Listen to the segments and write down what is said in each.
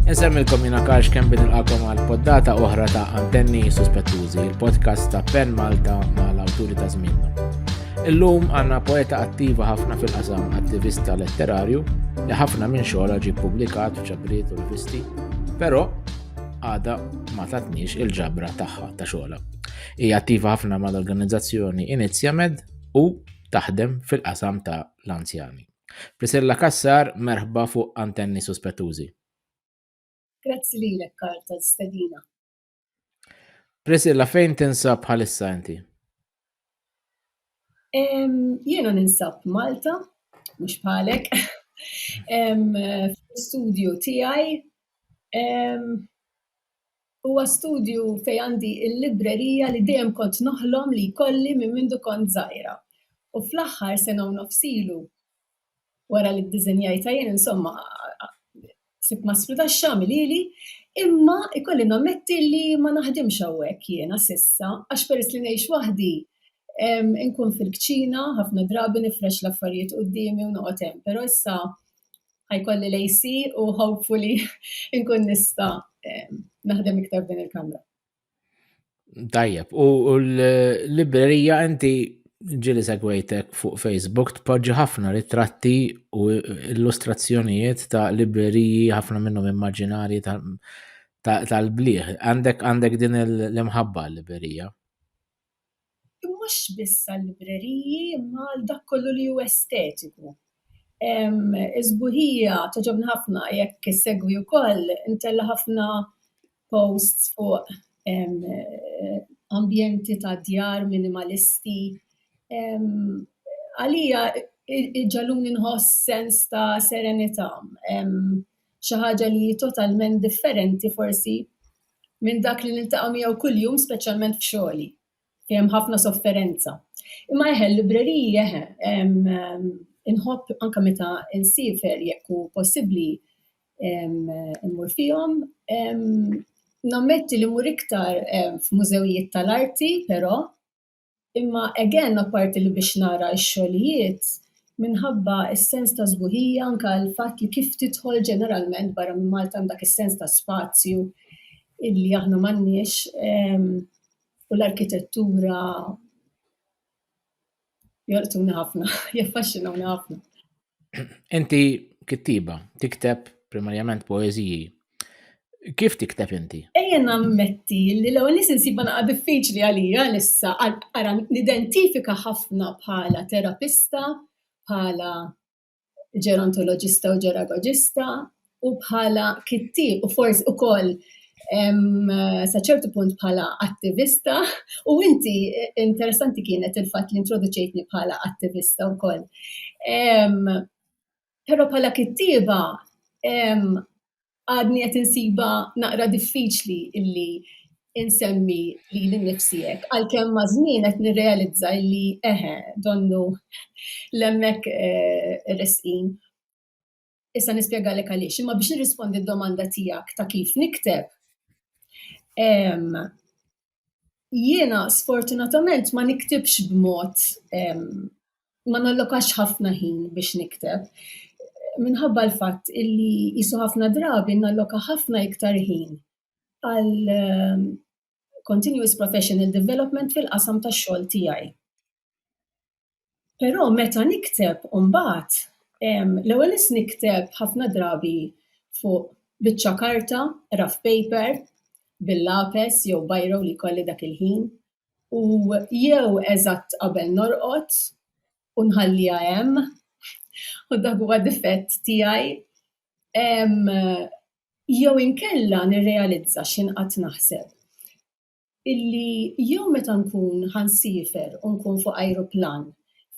Insemmilkom jina karx kem bin il-qakom għal poddata oħra ta' antenni suspettużi, il-podcast ta' Pen Malta ma' l-awturi ta' zminna. Illum għanna poeta attiva ħafna fil-qasam attivista letterarju li ħafna minn xogħla ġi publikat f'ċabriet u rivisti, però għada ma tatniex il-ġabra tagħha ta' xogħla. Hija attiva ħafna mal-organizzazzjoni Inizjamed u taħdem fil-qasam ta' l-anzjani. Priscilla Cassar, merħba fuq Antenni Suspettużi. Grazzi lilek Karl tal-istedina. Priscilla, fejn tinsab bħalissa inti? Jiena ninsab Malta, mhux bħalek, fl-studio tiegħi Huwa studju fejn għandi l-librerija li dejjem kont noħlom li jkolli minn mindu kont żgħira. U fl-aħħar sena u nofs ilu, wara li ddiżenjajtha jien, insomma, sibt ma sfrudax x'għamel ili, imma ikolli nammetti li ma naħdimx hawnhekk jiena s'issa għax peress li ngħix waħdi, inkun fil-kċina, ħafna drabi nifrex l-affarijiet quddiemi u noqgħod hemm, però issa ħajkolli l-AC u hopefully nkun nista naħdem iktar din il-kamra. Tajjeb, u l-librerija inti ġili segwejtek fuq Facebook tpoġġi ħafna ritratti u illustrazzjonijiet ta' libreriji ħafna minnhom immaġinari tal-bliħ. Għandek għandek din l-imħabba l-librerija? mhux biss għal-libreriji imma għal dak kollu li hu estetiku. Is-sbuħija togħġobni ħafna, jekk issegwi wkoll, intella' ħafna posts fuq ambjenti ta' djar minimalisti. Għalija iġegħluni nħoss sens ta' serenità. xi ħaġa li hi totalment differenti forsi minn dak li niltaqa' miegħu kuljum speċjalment f'xogħli fejn hemm ħafna sofferenza. Imma eħe, l-libreriji eħe, inħobb anke meta nsiefer jekk hu possibbli immur fihom. Nammetti li mmur iktar f'mużewijiet tal-arti però. Imma again apparti li biex nara x-xogħlijiet, minħabba s-sens ta' sbuħija anke l-fatt li kif tidħol ġeneralment barra minn Malta hemm dak is-sens ta' spazju illi aħna m'għandniex u l-arkitettura jolqtuni ħafna, jaffaxxinawni ħafna. Inti kittiba, tikteb primarjament poeżiji. Kif tikteb inti? Ejja nammetti li l-ewwel nies insibha naqa' diffiċli għalija issa ara nidentifika ħafna bħala terapista, bħala ġerontoloġista u ġeragoġista, u bħala kittieb u forsi ukoll sa ċertu punt bħala attivista u inti interessanti kienet il-fatt li introduċejtni bħala attivista wkoll. Però bħala kittieba għadni qed insiba naqra diffiċli illi insemmi li l-nifsijek, għal-kem mażmin qed nirrealizza li eħe, donnu l-emmek eh, resqin. Issa nispjegalek għaliex, imma biex nirrispondi d-domanda tiegħek ta' kif nikteb. Jiena sfortunatament ma niktibx b'mod ma nallokax ħafna ħin biex nikteb. Minħabba l-fatt illi jisu ħafna drabi nalloka ħafna iktar ħin għal continuous professional development fil-qasam tax-xogħol tiegħi. Però meta nikteb mbagħad l-ewwel nett nikteb ħafna drabi fuq biċċa karta, rough paper, bil-lapes jew biro li jkolli dak il-ħin, u jew eżatt qabel norqod u nħalliha hemm, u dak huwa difett tiegħi, jew inkella nirrealizza x'inqgħadt naħseb. illi jew meta nkun ħa nsiefer u nkun fuq ajruplan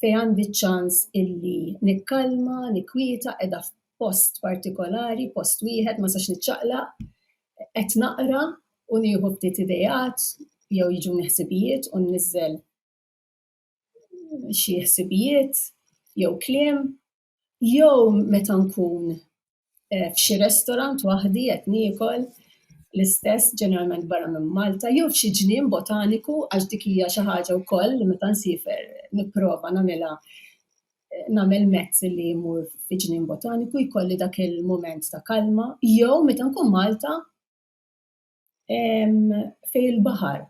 fejn għandi ċ-ċans illi nikkalma, nikkwieta qiegħda f'post partikolari, post wieħed ma sax niċċaqlaq, qed naqra u nieħu ftit ideat jew jiġuni ħsibijiet u nniżżel xi ħsibijiet jew kliem. Jew meta nkun eh, f'xi restorant waħdi qed niekol l-istess ġeneralment barra minn Malta, jew f'xi ġnien botaniku għax dik hija xi ħaġa wkoll li meta nsifer nipprova nagħmilha eh, nagħmel mezz li jmur fi ġnien botaniku jkolli dak il-mument ta' kalma, jew meta nkun Malta fej il-baħar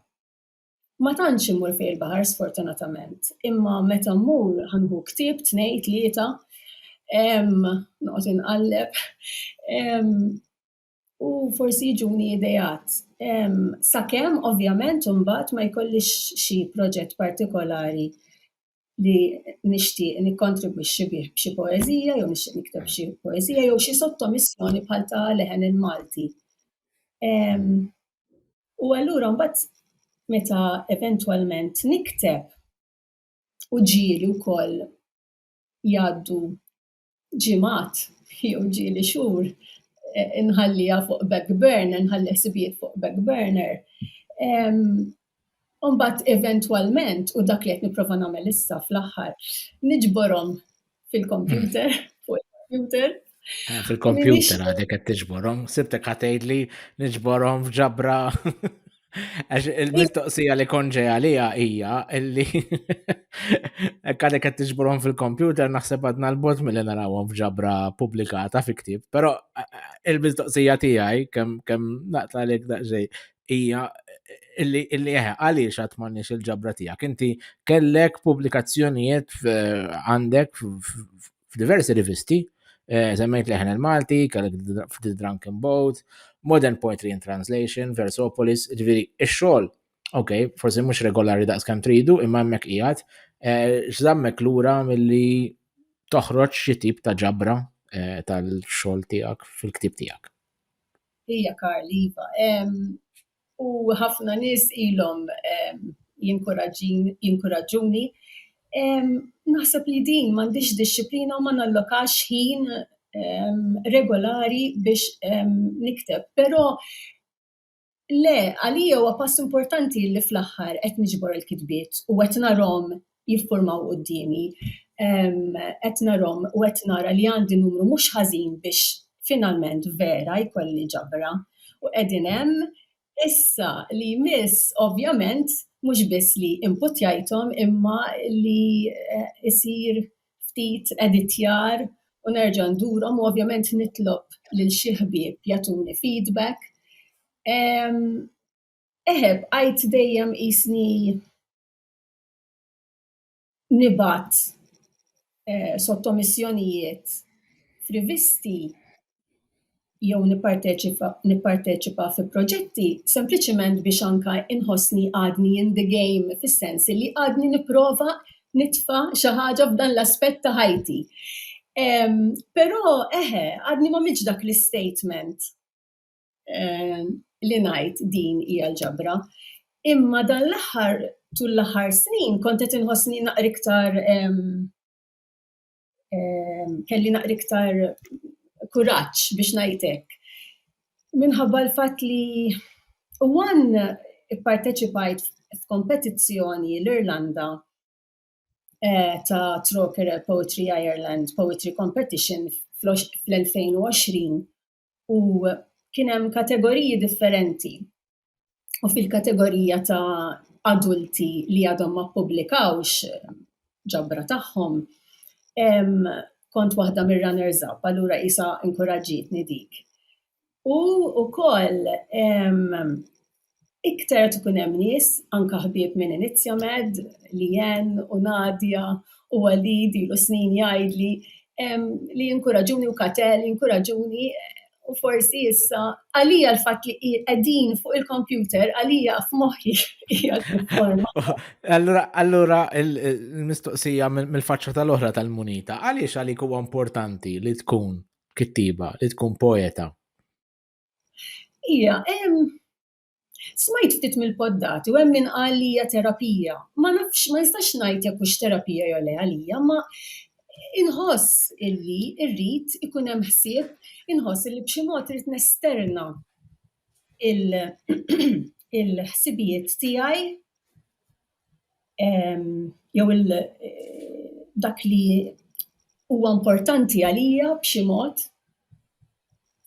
Ma tantx immur fejn il-baħar sfortunatament, imma meta mmur ħa nieħu ktieb, tnejn, tlieta, noqgħod inqalleb u forsi jiġuni ideat. Sakemm ovvjament imbagħad ma jkollix xi proġett partikolari li nixtieq nikkontribwixxi bih b'xi poeżija jew nixtieq nikteb xi poeżija jew xi sottomissjoni bħal ta' leħen il-Malti. U allura mbagħad meta eventwalment nikteb u ġieli wkoll jgħaddu ġimgħat jew ġieli xhur e, inħallija fuq back burner, nħalli ħsibijiet fuq back burner. Umbat eventualment, u dak li qed nipprova nagħmel issa fl-aħħar, niġborhom fil-kompjuter, hmm. fuq il-kompjuter. Eh, fil-kompjuter għadek qed tiġborhom, sibtek ħatejd li niġborhom f'ġabra. Għax il-mistoqsija li konġe għalija hija illi għadek qed tiġborhom fil-kompjuter naħseb għadna l-bot mill narawhom f'ġabra pubblikata fi ktieb, però il-mistoqsija tiegħi kemm kemm naqta' lek daqsxejn hija illi illi eh, għaliex għad m'għandniex il-ġabra tiegħek. Inti kellek pubblikazzjonijiet għandek f'diversi rivisti, eh, semmejt leħen il-Malti, kellek The Drunken Boat, Modern Poetry and Translation, Versopolis, ġviri, ix-xogħol, ok, forsi mhux regolari daqs kemm tridu, imma hemmhekk qiegħed, eh, x'żammek lura milli toħroġ xi tip ta' ġabra eh, tal-xogħol tiegħek fil-ktib tiegħek. Ija Karliva, U ħafna nies ilhom jinkuraġġuni. Naħseb li din m'għandhiex dixxiplina u ma nallokax ħin regolari biex nikteb. Però le, għalija huwa pass importanti li fl-aħħar qed niġbor il-kitbiet u qed narahom jiffurmaw quddiemi qed narhom u qed nara li għandi numru mhux ħażin biex finalment vera jkolli ġabra. U qegħdin hemm issa li jmiss ovvjament mhux biss li imputjajthom imma li eh, isir ftit editjar u nerġa' ndurhom u ovvjament nitlob lil xi ħbieb jagħtuni feedback. Eħeb, għajt dejjem isni nibgħat eh, sottomissjonijiet f'rivisti jew nipparteċipa fi proġetti sempliċiment biex anka inħossni għadni in the game fis-sens li għadni nipprova nitfa xi ħaġa f'dan l-aspett ta' ħajti. Però eħe, għadni ma miġ dak l-statement eh, li ngħid din hija l-ġabra. Imma dan l-aħħar tul l-aħħar snin kont qed inħossni naqri iktar kelli naqri iktar kuraġġ biex ngħidlek. Minħabba l-fatt li one ipparteċipajt f'kompetizzjoni l-Irlanda eh, ta' Troker Poetry Ireland Poetry Competition fl-2020 u kien hemm kategoriji differenti. U fil-kategorija ta' adulti li għadhom ma ppubblikawx ġabra tagħhom, kont waħda mir-runners up, allura isa inkuraġġitni dik. U wkoll iktar qed ikun hemm nies, anke ħbieb minn Inizjamed, Liann u Nadia u Walid ilu snin jgħidli li jinkuraġuni u Katel jinkuraġuni u forsi issa għalija l-fatt li qegħdin fuq il-kompjuter għalija f'moħħi Allura allura l-mistoqsija mill-faċċa tal-oħra tal-munita, għaliex għalik huwa importanti li tkun kittiba, li tkun poeta? Ija, hemm smajt ftit mill-poddati u hemm min qal li hija terapija. Ma nafx, ma nistax ngħid jekk hux terapija jew le għalija, ma inħoss illi rrid ikun hemm ħsieb, inħoss illi b'xi mod irid nesterna il-ħsibijiet tiegħi jew dak li huwa importanti għalija b'xi mod,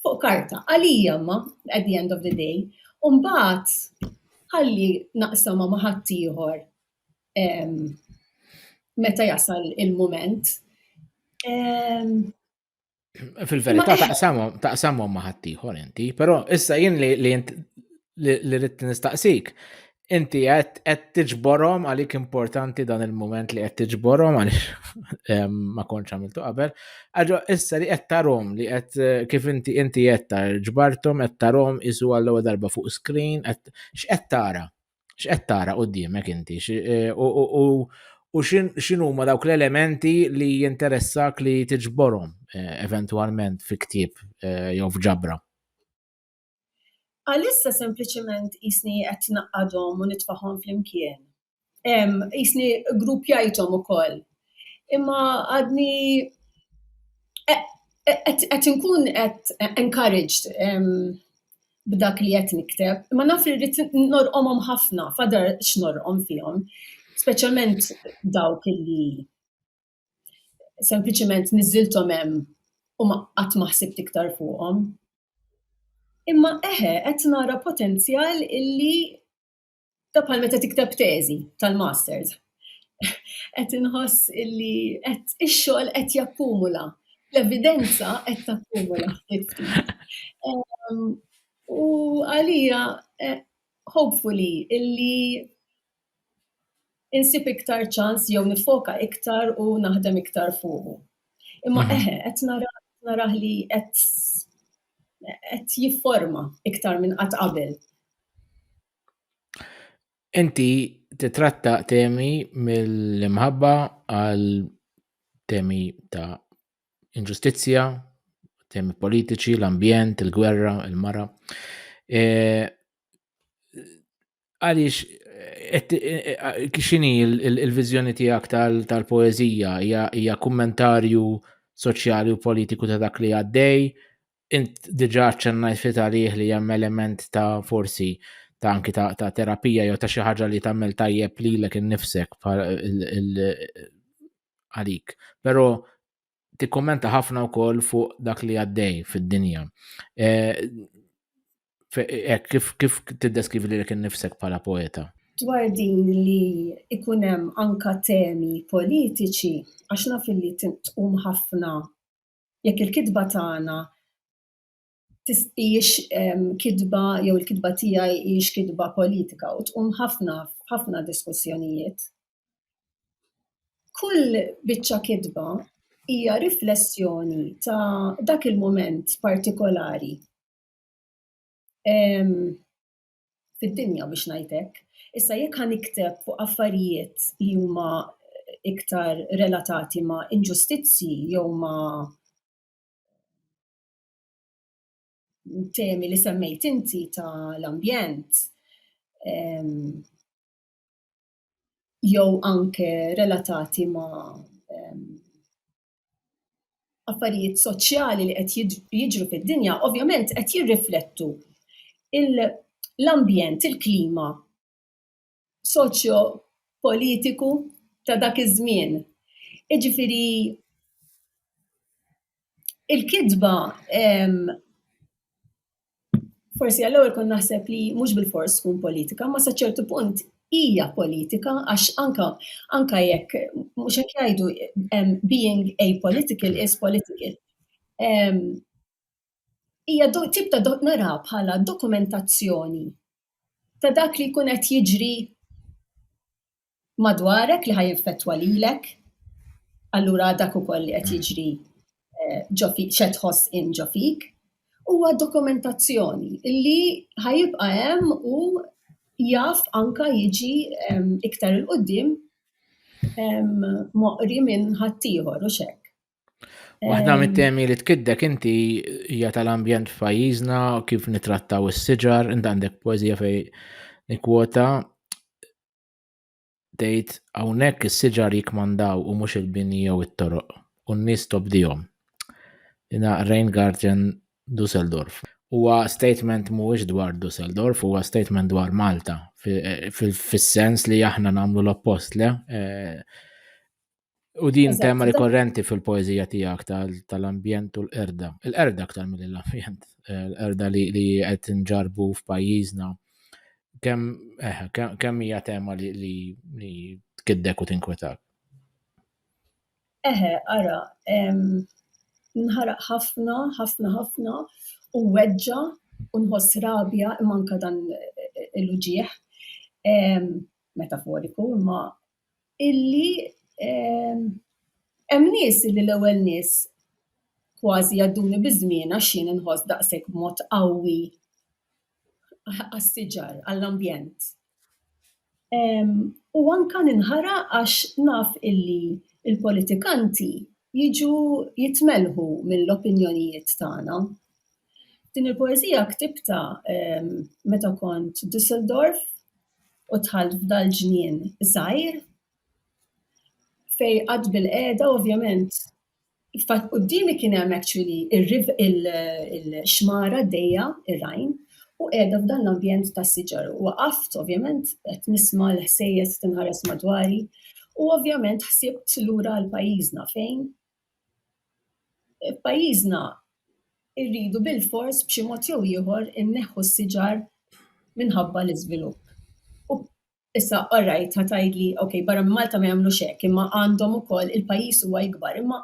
fuq karta, għalija imma at the end of the day, u mbagħad ħalli naqsamha ma' ħaddieħor meta jasal il-mument. Fil-verità eh, taqsamhom taqsamhom ma' ħaddieħor inti, però issa jien li li rrid nistaqsik. Inti qed tiġborhom għalik importanti dan il-moment li qed tiġborhom għaliex ma kontx għamiltu qabel. Aġo issa li qed tarhom li qed eh, kif inti inti qed ġbarthom qed tarhom isu għall-ewwel darba fuq screen qed x'qed tara? X'qed tara quddiemek inti? Eh, u x'inhu ma dawk l-elementi li jinteressak li tiġborhom eh, eventwalment fi ktieb eh, jew f'ġabra? Għalissa sempliċement isni qed naqadhom u nitfahom flimkien. Isni gruppjajthom ukoll. Imma għadni qed inkun qed encouraged b'dak li qed nikteb, imma naf li rrid norqomhom ħafna, fadar x'norqom fihom, speċjalment dawk li sempliċement niżilthom hemm u ma qatt ma ħsibt iktar fuqhom. Imma eħe qed nara potenzjal illi Ta' bħal meta tikteb teżi tal-masters. Qed inħoss illi qed ix-xogħol qed jakkumula. L-evidenza qed takkumula. Ehm, u għalija eh, hopefully illi insib iktar ċans jew nifoka iktar u naħdem iktar fuqu. Imma mhm. eħe, qed naraħ li qed qed jifforma iktar minn qatt qabel. Inti titratta temi mill-imħabba għal temi ta' inġustizzja, temi politiċi, l-ambjent, il-gwerra, il-mara. E, għaliex xini il-vizjoni tijak tal-poezija hija kummentarju soċjali u politiku ta' dak li għaddej, int diġa ċennajt fit għalih li hemm element ta' forsi ta' anki ta', ta terapija jew ta' xi ħaġa li tagħmel tajjeb lilek innifsek għalik. Però tikkommenta ħafna wkoll fuq dak li għaddej fid-dinja. Eh, eh, kif kif tiddeskrivi li kien nifsek bħala poeta? Dwar din li ikun hemm anka temi politiċi għax naf li tqum ħafna jekk il-kitba tagħna hijiex kitba jew il-kitba tiegħi hijiex kitba politika u tqum ħafna ħafna diskussjonijiet. Kull biċċa kitba hija riflessjoni ta' dak il-mument partikolari fid-dinja biex ngħidlek. Issa jekk ħa nikteb fuq affarijiet li huma iktar relatati ma' inġustizzji jew ma' temi li semmejt inti ta' l-ambjent jew anke relatati ma' affarijiet soċjali li qed jiġru fid-dinja, ovvjament qed jirriflettu l-ambjent, il-klima soċjo-politiku ta' dak iż-żmien. Jiġifieri il-kitba forsi għall-ewwel kont naħseb li mhux bil-fors tkun politika, ma sa ċertu punt hija politika għax anka anka jekk mhux hekk jgħidu being apolitical is political. hija tip ta' nara bħala dokumentazzjoni ta' dak li jkun qed jiġri madwarek li ħaj jinfettwa lilek. Allura dak ukoll li qed jiġri eh, ġo fik xed tħoss in ġo fik huwa dokumentazzjoni li ħajibqa' hemm u jaf anka jiġi iktar il-qoddim moqri minn ħaddieħor u xek. Waħda ehm. mit-temi li tkiddek inti hija tal-ambjent f'pajjiżna, kif nitrattaw is-siġar, inti għandek poeżija fej nikwota tgħid hawnhekk is-siġar jikmandaw u mhux il-bini jew it-toroq u n-nies tobdihom. Ina Reingarten Dusseldorf. Huwa statement mhuwiex dwar Dusseldorf, huwa statement dwar Malta fis-sens li aħna nagħmlu l-oppost le eh, U din Eżatt, tema rikorrenti fil-poezija tiegħek tal-ambjent u l-qerda. Il-qerda aktar mill l-ambjent, eh, l-qerda li qed nġarbu f'pajjiżna. Eh, kemm hija tema li tkiddek u tinkwetak? Eħe, ara, nħaraq ħafna, ħafna, ħafna, u weġġa, u nħoss rabja, manka dan eh, il-uġieħ, metaforiku, imma illi hemm nies illi l-ewwel nies kważi jgħadduni biż-żmien għax jien inħoss daqshekk b'mod qawwi għas-siġar, għall-ambjent. U anke ninħaraq għax naf illi l-politikanti jiġu jitmelħu mill-opinjonijiet tagħna. Din il-poeżija ktibtha meta kont Düsseldorf. u dħalt f'dal ġnien żgħir fej qatt bil-qiegħda ovvjament Fat qudiemi kien hemm actually il-xmara d-dejja, ir-Rhine, u qiegħda f'dan l-ambjent ta' siġar. Waqaft ovvjament qed nisma' l-ħsejjes tinħares madwari u ovvjament ħsibt lura għal pajjiżna fejn F'pajjiżna rridu bilfors b'xi mod jew ieħor inneħħu s-siġar minħabba l-iżvilupp. Issa all right ħa tgħidli ok barra minn Malta ma jagħmlux hekk, imma għandhom ukoll il-pajjiż huwa ikbar imma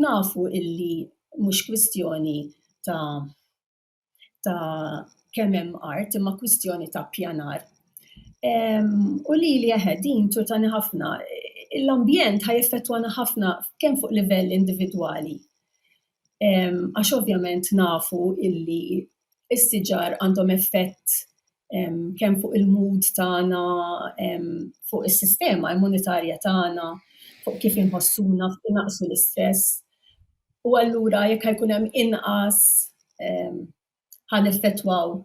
nafu illi mhux kwistjoni ta' ta' kemm hemm art imma kwistjoni ta' pjanar. U li li eħed din turtani ħafna, l-ambjent ħaj effettwana ħafna kemm fuq livell individwali. Għax ovvjament nafu illi s-siġar għandhom effett kemm fuq il-mood tagħna, fuq is-sistema immunitarja tagħna, fuq kif inħossuna, fuq naqsu l-istress. U allura jekk ħajkun hemm inqas ħan effettwaw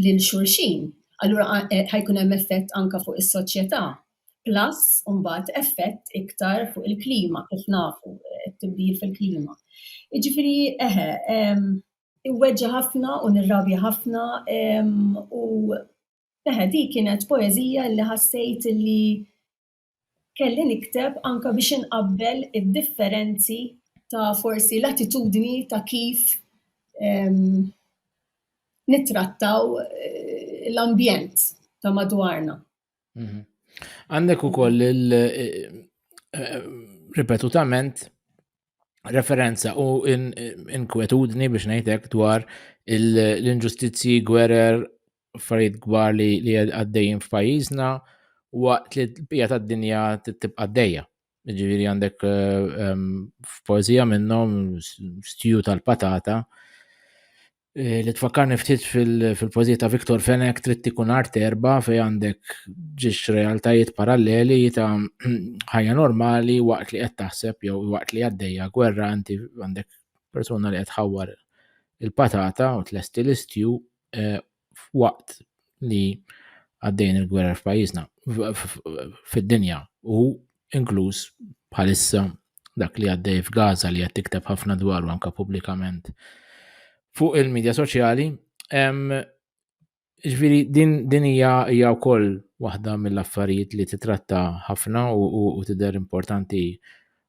lil xulxin, allura eh, ħajkun hemm effett anka fuq is-soċjetà. Plus, mbagħad effett iktar fuq il-klima, kif nafu, eh, tibdil fil-klima. Iġifieri, eħe, Iweġġa ħafna u nirrabja ħafna u eħe di kienet poeżija li ħassejt li kelli nikteb anka biex inqabbel id-differenzi ta' forsi l-attitudni ta' kif nittrattaw eh, l-ambjent ta' madwarna. Mhm. Għandek ukoll il- eh, eh, ripetutament referenza u in- inkwetudni biex ngħidlek dwar il- l-inġustizzji gwerer affarijiet kbar li li għaddejjin f'pajjiżna waqt li l-bija tad-dinja t- tibqa' għaddejja. Ġifieri għandek eh, em, f'poeżija minnhom s- stiju tal-patata Eh, li tfakkarni ftit fil-pożijiet ta' Viktor Fenek trid tikun art erba fej għandek ġiex realtajiet paralleli ta' ħajja normali waqt li qed taħseb jew waqt li għaddejja gwerra inti għandek persuna li qed ħawwar il-patata u tlesti l-istju eh, waqt li għaddejn il-gwerra f'pajjiżna fid-dinja u inkluż bħalissa dak li għaddej f'Gaza li qed tikteb ħafna dwaru anke pubblikament fuq il-medja soċjali. Ġviri, din hija hija wkoll waħda mill-affarijiet li titratta ħafna u tidher importanti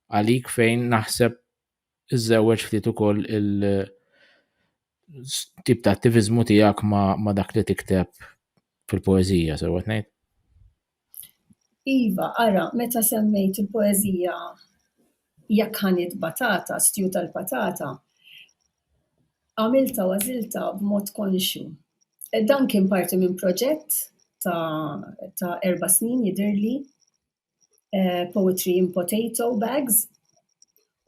għalik fejn naħseb iżżewweġ ftit ukoll il- tip ta' attivizmu tiegħek ma, ma dak li tikteb fil-poezija, sewa ngħid? Iva, ara, meta semmejt il-poeżija Jekk ħanid batata, stew tal-patata, għamiltha u għażiltha b'mod konxju. Dan kien parti minn proġett ta' ta' erba' snin jidhirli, Poetry in Potato Bags.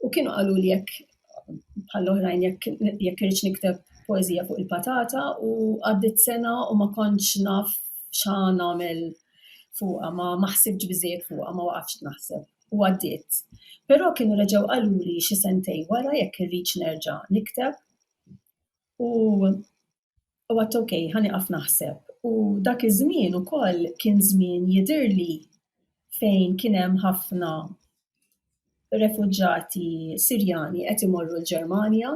U kienu qalu li jekk bħall-oħrajn jekk jekk irridx nikteb poezija fuq il-patata u għaddit sena u ma kontx naf xa nagħmel fuqha ma ma ħsibx biżejjed fuqha ma waqaftx naħseb u għaddiet. Però kienu reġgħu qaluli xi sentej wara jekk irridx nerġa' nikteb u u għat ok, ħaniqaf naħseb. U dak iż-żmien ukoll kien żmien jidirli fejn kien hemm ħafna refuġġati Sirjani qed imorru l-Ġermanja.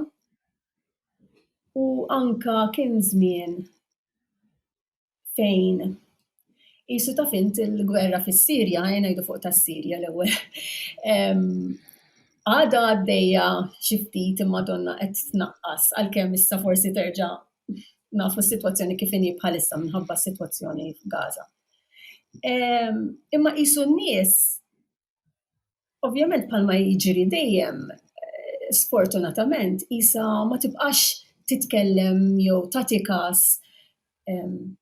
U anka kien żmien fejn jisu taf int il-gwerra fis-Sirja, ngħidu fuq tas-Sirja l-ewwel. Għada għaddejja xi ftit imma donna qed tnaqqas għalkemm issa forsi terġa' nafu s-sitwazzjoni kif inhi bħalissa minħabba s-sitwazzjoni f'Gaza. Imma qisu n-nies Ovvjament palma jiġri dejjem, eh, sfortunatament, isa ma tibqax titkellem jew tagħti kas ehm,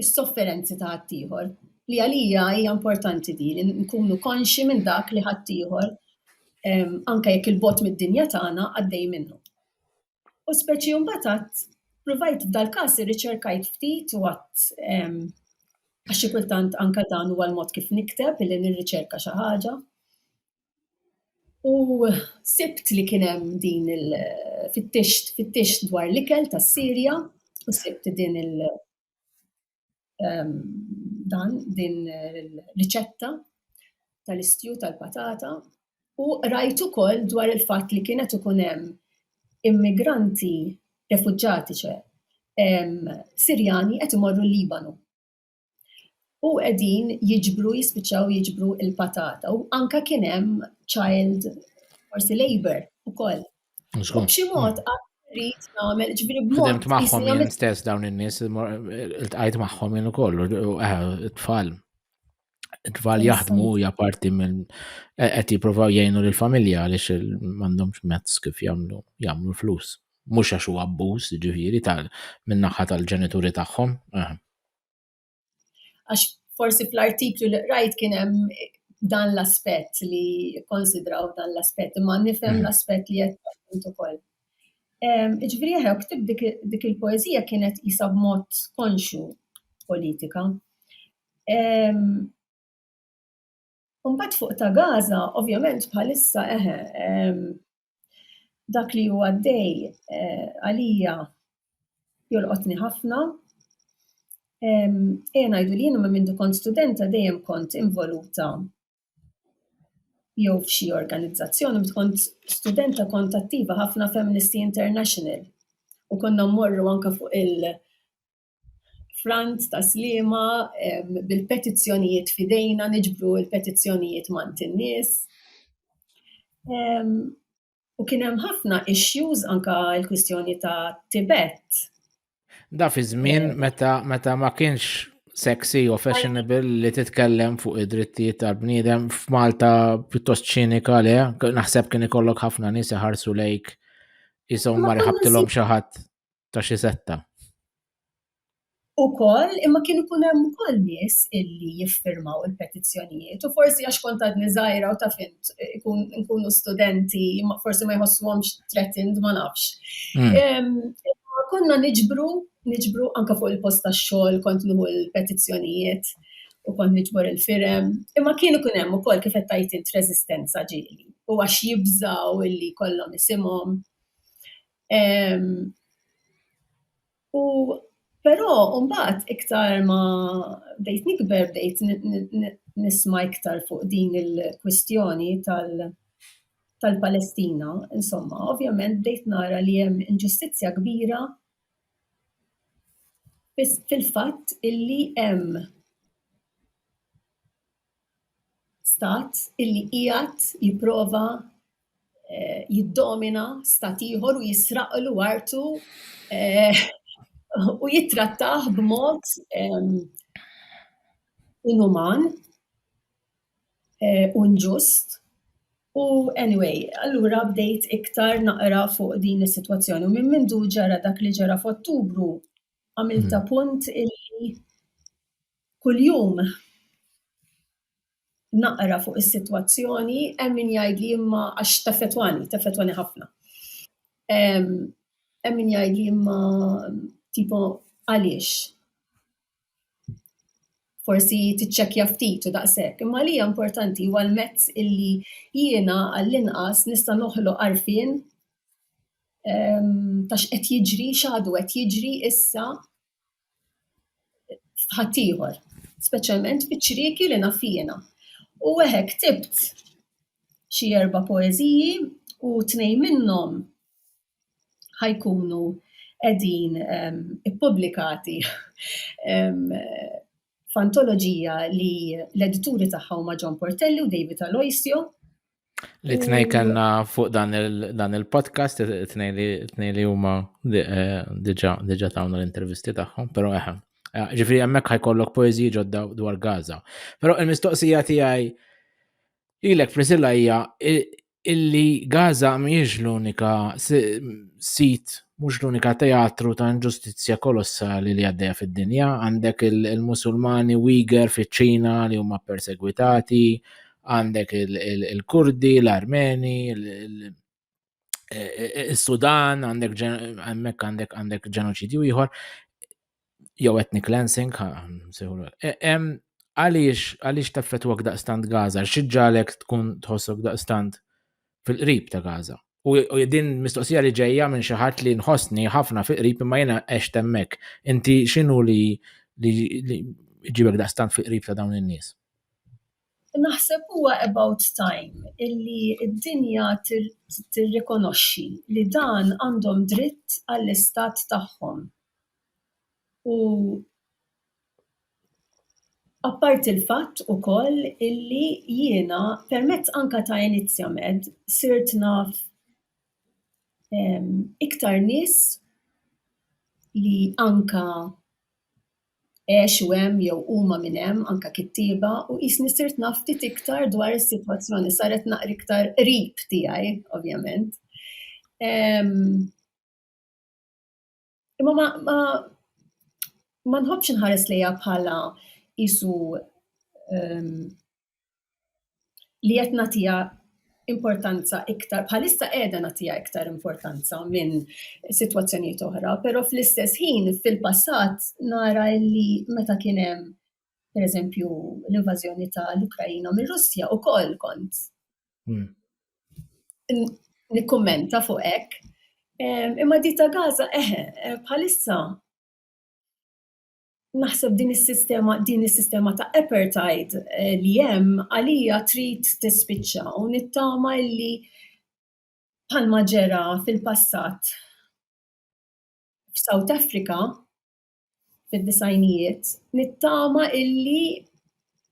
is-sofferenzi ta' ħaddieħor. Li għalija hija importanti di li nkunu konxi minn dak li ħaddieħor ehm, anke jekk il-bot mid-dinja tagħna għaddej minnu. U speċi mbagħad għadd provajt f'dal-każ irriċerkajt ftit u għadd għax xi kultant anke dan huwa l-mod kif nikteb li nirriċerka xi ħaġa. U sibt li kien hemm din il-fittixt fittixt dwar l-ikel tas-Sirja u sibt din il- ehm, dan din l-riċetta tal-istju tal-patata u rajt ukoll dwar il-fatt li kienet ikun hemm immigranti refugġati ċe ehm, Sirjani qed imorru l-Libanu u qegħdin jiġbru jispiċċaw jiġbru il-patata u anka kien hemm child forsi labor ukoll B'xi mod hmm. rrid nagħmel ġbri b'mod. Fimt magħhom jien stess dawn in-nies iltqajt magħhom jien ukoll eh, it-tfal. It-tfal jaħdmu hija parti minn e- qed jippruvaw jgħinu lill-familja għaliex m'għandhomx mezz kif jagħmlu jagħmlu flus. Mhux għax huwa abbuż, ġifieri tal min-naħa tal-ġenituri tagħhom. Eh. Għax forsi fl-artiklu li qrajt kien hemm dan l-aspett li konsidraw dan l-aspett, imma nifhem mhm. l-aspett li qed ukoll. Iġifieri aħna ktib dik il-poeżija kienet isa b'mod konxu politika. U mbagħad fuq ta' Gaza, ovvjament bħalissa eħe, dak li huwa għaddej eh, għalija jolqotni ħafna. Ejja ngħidu li jiena ma mindu kont studenta dejjem kont involuta jew f'xi organizzazzjoni, meta kont studenta kont attiva ħafna Feministi International u konna mmorru anka fuq il- Frant ta' Sliema bil-petizzjonijiet fidejna niġbru l-petizzjonijiet mant in-nies. U kien hemm ħafna issues anka l-kwistjoni ta' Tibet. Da fi żmien meta meta ma kienx sexy u fashionable li titkellem fuq id-drittijiet tal-bniedem f'Malta pjuttost ċinika le, naħseb kien ikollok ħafna nies iħarsu lejk jisom ma riħabtilhom xi ħadd. ta' xi setta. Ukoll, imma kien ikun hemm ukoll nies illi jiffirmaw il-petizzjonijiet u forsi għax kont għadni żgħira u taf int nkunu studenti forsi ma jħossuhomx threatened ma nafx. Hmm. Konna niġbru, niġbru anke fuq il-post tax-xogħol kont nieħu l-petizzjonijiet u kont niġbor il-firem. Imma kien ikun hemm ukoll kif qed tgħid int reżistenza ġieli u għax jibżaw illi kollhom isimhom. U però mbagħad iktar ma bdejt nikber bdejt nisma' iktar fuq din il-kwistjoni tal-Palestina, insomma, ovvjament bdejt nara li hemm inġustizzja kbira fil-fatt illi hemm stat illi qiegħed jipprova eh, jiddomina stat ieħor u jisraqlu artu eh, u jittrattaħ b'mod eh, inuman u nġust. U anyway, allura bdejt iktar naqra fuq din is-sitwazzjoni u minn mindu ġara dak li ġara f'Ottubru għamilta mhm. punt illi Kuljum naqra fuq is-sitwazzjoni, hemm min jgħidli imma għax teffettwani, teffettwani ħafna. Hemm min jgħidli imma tipo għaliex. Forsi tiċċekkja ftit u daqshekk, imma li hija importanti huwa l-mezz illi jiena għall-inqas nista' noħloq għarfien ta' x'qed jiġri, x'għadu qed jiġri issa f'ħaddieħor, speċjalment fiċ-ċrieki li naf jiena. U eħe ktibt xi erba' poeżiji u tnejn minnhom ħa jkunu qegħdin ippubblikati f'antoloġija li l-edituri tagħha huma John Portelli u David Aloisio. Li tnej kellna fuq dan il-podcast, tnej li huma eh, diġa tawna l-intervisti tagħhom, però eħem. Eh, eh, ġifri hemmhekk ħajkollok poeżiji ġodda dwar Gaza. Però il-mistoqsija tiegħi lilek Prisilla hija illi Gaza mhijiex l-unika sit, mhux l-unika teatru ta' inġustizzja kolossali li għaddejja fid-dinja. Għandek il-Musulmani Uyghur fiċ-Ċina li huma persegwitati, għandek il-Kurdi, l-Armeni, il-Sudan, għandek għandek ġenoċidju ieħor. jew ethnic cleansing, e, għaliex għaliex taffetwak daqstant Gaza, xieġġalek tkun tħossok daqstant fil-qrib ta' Gaza. U din mistoqsija li ġejja minn xi ħadd li nħossni ħafna fil-qrib imma jiena għex temmek. Inti x'inhu li li ġibek daqstant fil-qrib ta' dawn in-nies? Naħseb huwa about time illi d-dinja tirrikonoxxi li dan għandhom dritt għall-istat tagħhom u apparti l-fatt ukoll illi jiena permezz anke ta' Iniziamed sirt naf iktar nies li anke għexu hemm jew huma minn hemm anke kittieba u qisni sirt naf ftit iktar dwar is-sitwazzjoni, saret naqra iktar qrib tiegħi ovvjament. Imma ma ma ma nħobbx inħares lejha bħala isu li qed nagħtiha importanza iktar, bħalissa qiegħda nagħtiha iktar importanza minn sitwazzjonijiet oħra, però fl-istess ħin fil-passat nara li meta kien hemm pereżempju l-invażjoni tal-Ukrajina mir-Russja ukoll kont. Hmm. Nikkummenta fuq hekk. Imma di ta' Gaza eħe, eh, bħalissa Naħseb din is-sistema din is-sistema ta' apartheid eh, li hemm għalija trid tispiċċa u nittama li bħalma ġera fil-passat f'South Africa fid-disajnijiet nittama illi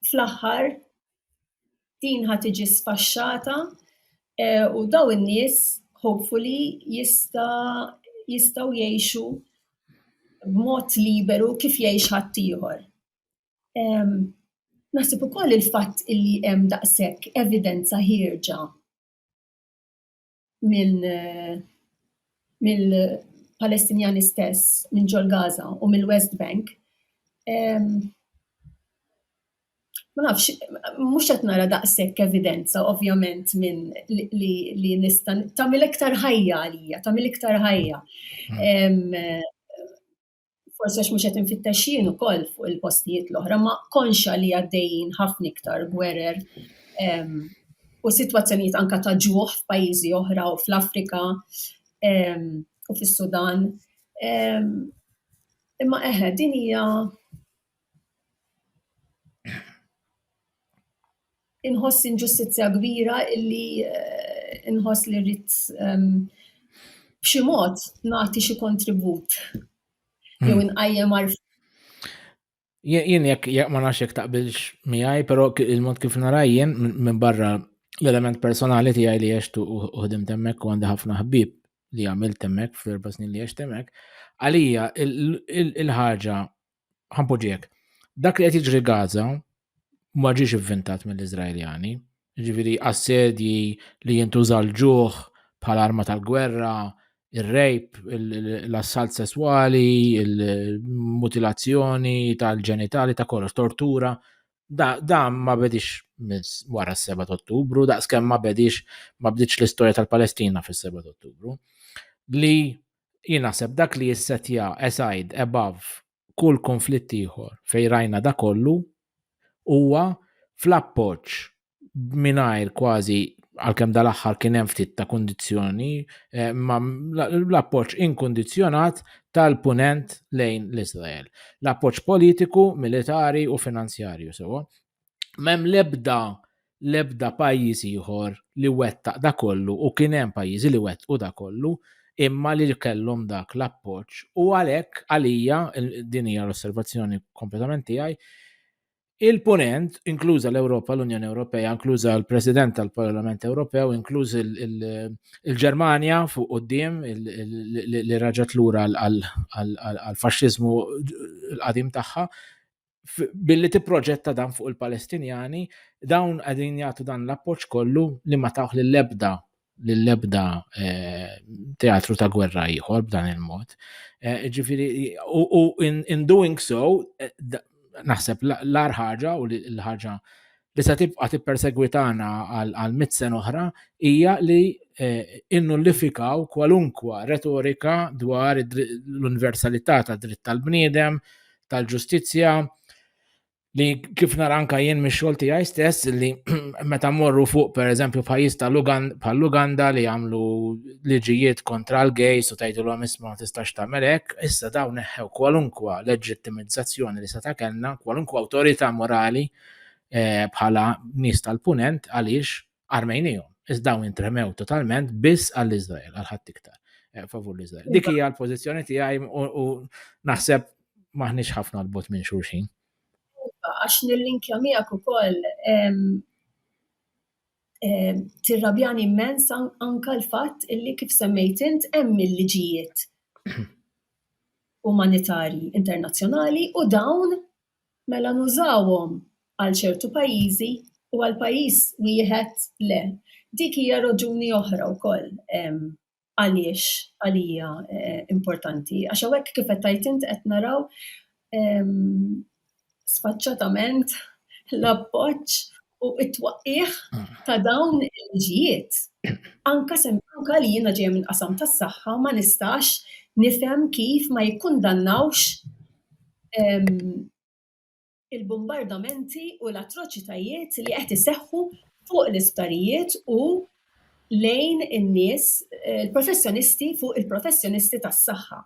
fl-aħħar Din ħa tiġi sfaxxata eh, u daw in-nies hopefully jista' jistgħu jgħixu b'mod liberu kif jgħix ħaddieħor. Naħseb ukoll il-fatt illi hemm daqshekk evidenza ħierġa mill-Palestinjani stess, minn ġol Gaza u mill-West Bank, ma nafx, mhux qed nara daqshekk evidenza ovvjament minn li nista' tagħmel iktar ħajja għalija, tagħmel iktar ħajja. Hmm. forse għax mhux qed infittex jien ukoll fuq il-postijiet l-oħra, ma konxa li għaddejjin ħafna iktar gwerer u sitwazzjonijiet anka ta' ġuħ f'pajjiżi oħra u fl-Afrika u fis-Sudan. Imma eħe, din hija Inħoss inġustizzja kbira illi eh, inħoss li rrid ehm, b'xi mod nagħti xi kontribut hmm. jew inqajjem għarf. Jien jekk jekk ma nafx jekk taqbilx miegħi, però il-mod kif naraj jien minn barra l-element personali tiegħi li għextu u ħdim temmek u għandi ħafna ħbib li għamil temmek fl-erba snin li għex temmek, għalija il-ħaġa ħampoġiek, dak li qed jiġri Gaza ma ġiex ivvintat mill-Iżraeljani, ġifieri assedji li jintuża l-ġuħ bħala arma tal-gwerra, ir-rejp, l-assalt sesswali, il-mutilazzjoni tal-ġenitali ta' kollox, tortura, da ma bedix minn wara s-7 Ottubru, daqskemm ma bedix ma bdiċ l-istorja tal-Palestina fis-7 Ottubru. Li Jien naħseb dak li jissetja aside, above, kull kunflitt ieħor fejn rajna dak kollu huwa fl-appoġġ mingħajr kważi għalkemm dal-aħħar kien hemm ftit ta' kundizzjoni, eh, ma l-appoġġ inkundizzjonat tal-punent lejn l-Iżrael. L-appoġġ politiku, militari u finanzjarju sewa. M'hemm l-ebda l-ebda pajjiż ieħor li wettaq da kollu u kien hemm pajjiżi li wettqu da kollu imma li kellhom dak l-appoġġ. U għalhekk għalija din hija l-osservazzjoni kompletament tiegħi Il-punent, inkluża l-Ewropa, l-Unjoni Ewropea, inkluża l-President tal-Parlament Ewropew, inkluż il-Ġermanja fuq qudiem li raġat lura għal-faxxiżmu l-qadim tagħha, billi tipproġetta dan fuq il-Palestinjani, dawn għadin jagħtu dan l-appoġġ kollu li ma tawħ lill-ebda lill-ebda eh, teatru ta' gwerra ieħor b'dan il-mod. Eh, ġifiri, u in doing so, eh, naħseb l-ar ħaġa u l-ħaġa li se tibqa' tippersegwitana għal mit sen oħra hija li eh, innullifikaw kwalunkwa retorika dwar l-universalità tad dritt tal-bniedem, tal-ġustizzja li kif nara anka jien mix-xogħol tiegħi stess li meta morru fuq pereżempju pajjiż tal-Uganda li jagħmlu liġijiet kontra l-gejs u tgħidulhom isma' ma tistax tagħmel hekk, issa dawn neħħew kwalunkwa leġittimizzazzjoni li seta' kellna, kwalunkwa awtorità morali eh, bħala nies tal-punent għaliex armejnijom, iżda dawn intremew totalment biss għall-Izrael, għal ħadd iktar, eh, favur l-Izrael. Dik iva. hija l-pożizzjoni tiegħi u naħseb maħniex ħafna l-bot minn xulxin. Iva, għax nil-linkja miegħek ukoll tirrabjani immens anka l-fatt illi kif semmejt int hemm il-liġijiet umanitarji internazzjonali u dawn Mela nużawhom għal ċertu pajjiżi u għal pajjiż wieħed le. Dik hija raġuni oħra wkoll għaliex għalija importanti. Għax hawnhekk kif qed tgħid int qed naraw sfaċċatament l-appoġġ u t-twaqqigħ ta' dawn il-liġijiet. Anke se anke li jiena ġejja minn qasam tas-saħħa ma nistax nifhem kif ma jikkundannawx il-bumbardamenti u l-atroċitajiet li qed iseħħu fuq l-isptarijiet u lejn in-nies il-professjonisti fuq il-professjonisti tas-saħħa.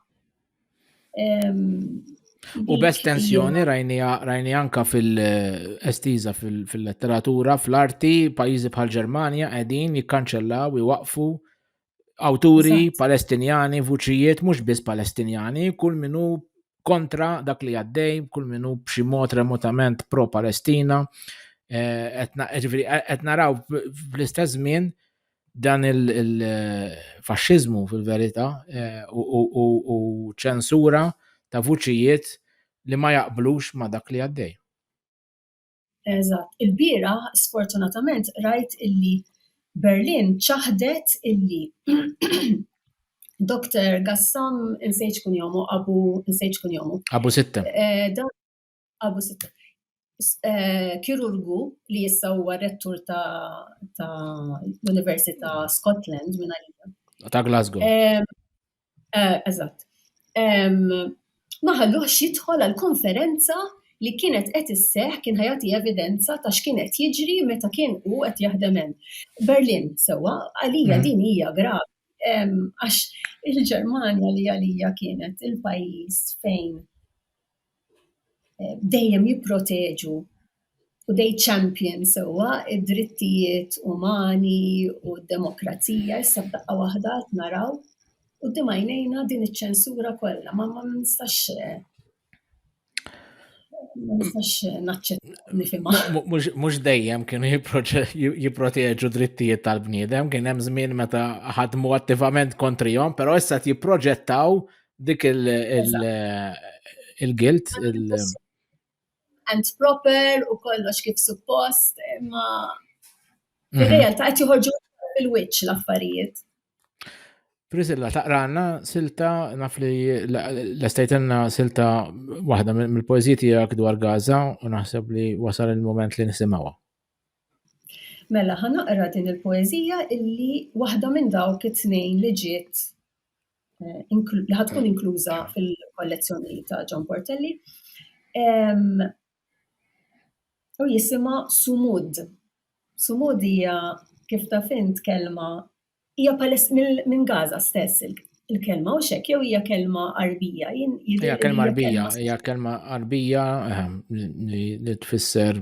U b'estensjoni rajni anka fil-estiza fil-letteratura, fl-arti, pajizi bħal Ġermanja qegħdin jikkanċellaw iwaqfu awturi palestinjani, vuċijiet mhux biss palestinjani, kull minu kontra dak li għaddej, kull minu b'xi mod remotament pro-Palestina. Eh, qed naraw fl-istess żmien Dan il-faxxiżmu fil-verità eh, u ċensura ta' vuċijiet li ma jaqblux ma' dak li għaddej. Eżatt, il-bira sfortunatament rajt illi Berlin ċaħdet illi Dr. Gassam insejt kun jomu, Abu insejt kun jomu. Abu Sitta. Eh, Abu Sitta. Eh, kirurgu li jissa huwa rettur ta' l-Università Scotland minn għalija. Ta' Glasgow. Eh, eżatt. Ma ħalluħx jidħol għal-konferenza li kienet qed isseħ kien ħajati evidenza ta' x'kien qed jiġri meta kien u qed jaħdem hemm. Berlin sewwa għalija hmm. din hija gravi għax il-Ġermanja li għalija kienet il-pajjiż fejn dejjem jipproteġu u they champion sewwa d-drittijiet umani u d-demokrazija, issa f'daqqa waħda qed naraw quddiem għajnejna din iċ-ċensura kollha. Ma nistax ma nistax naċċetta nifhimha. Mhux dejjem kienu jipproteġu drittijiet tal-bniedem, kien hemm żmien meta ħadmu attivament kontrihom, però issa jipproġettaw Dik il-gilt, il- and proper u kollox kif suppost, imma mhm. fil-realtà qed joħorġu fil-wiċċ l-affarijiet. Prisilla, taqranna silta naf li l-estajtenna silta waħda mill-poezji tiegħek dwar Gaza u naħseb li wasal il-moment li nisimgħuha. Mela, ħanaqra din il-poezija illi waħda minn dawk it-tnejn li ġiet li ħatkun inkluża fil-kollezzjoni ta' John Portelli. U jisima Sumud. Sumud hija kif ta' fint kelma hija minn Gaza stess il-kelma u xek jew hija kelma arbija. Hija kelma arbija, hija kelma arbija ehm, li tfisser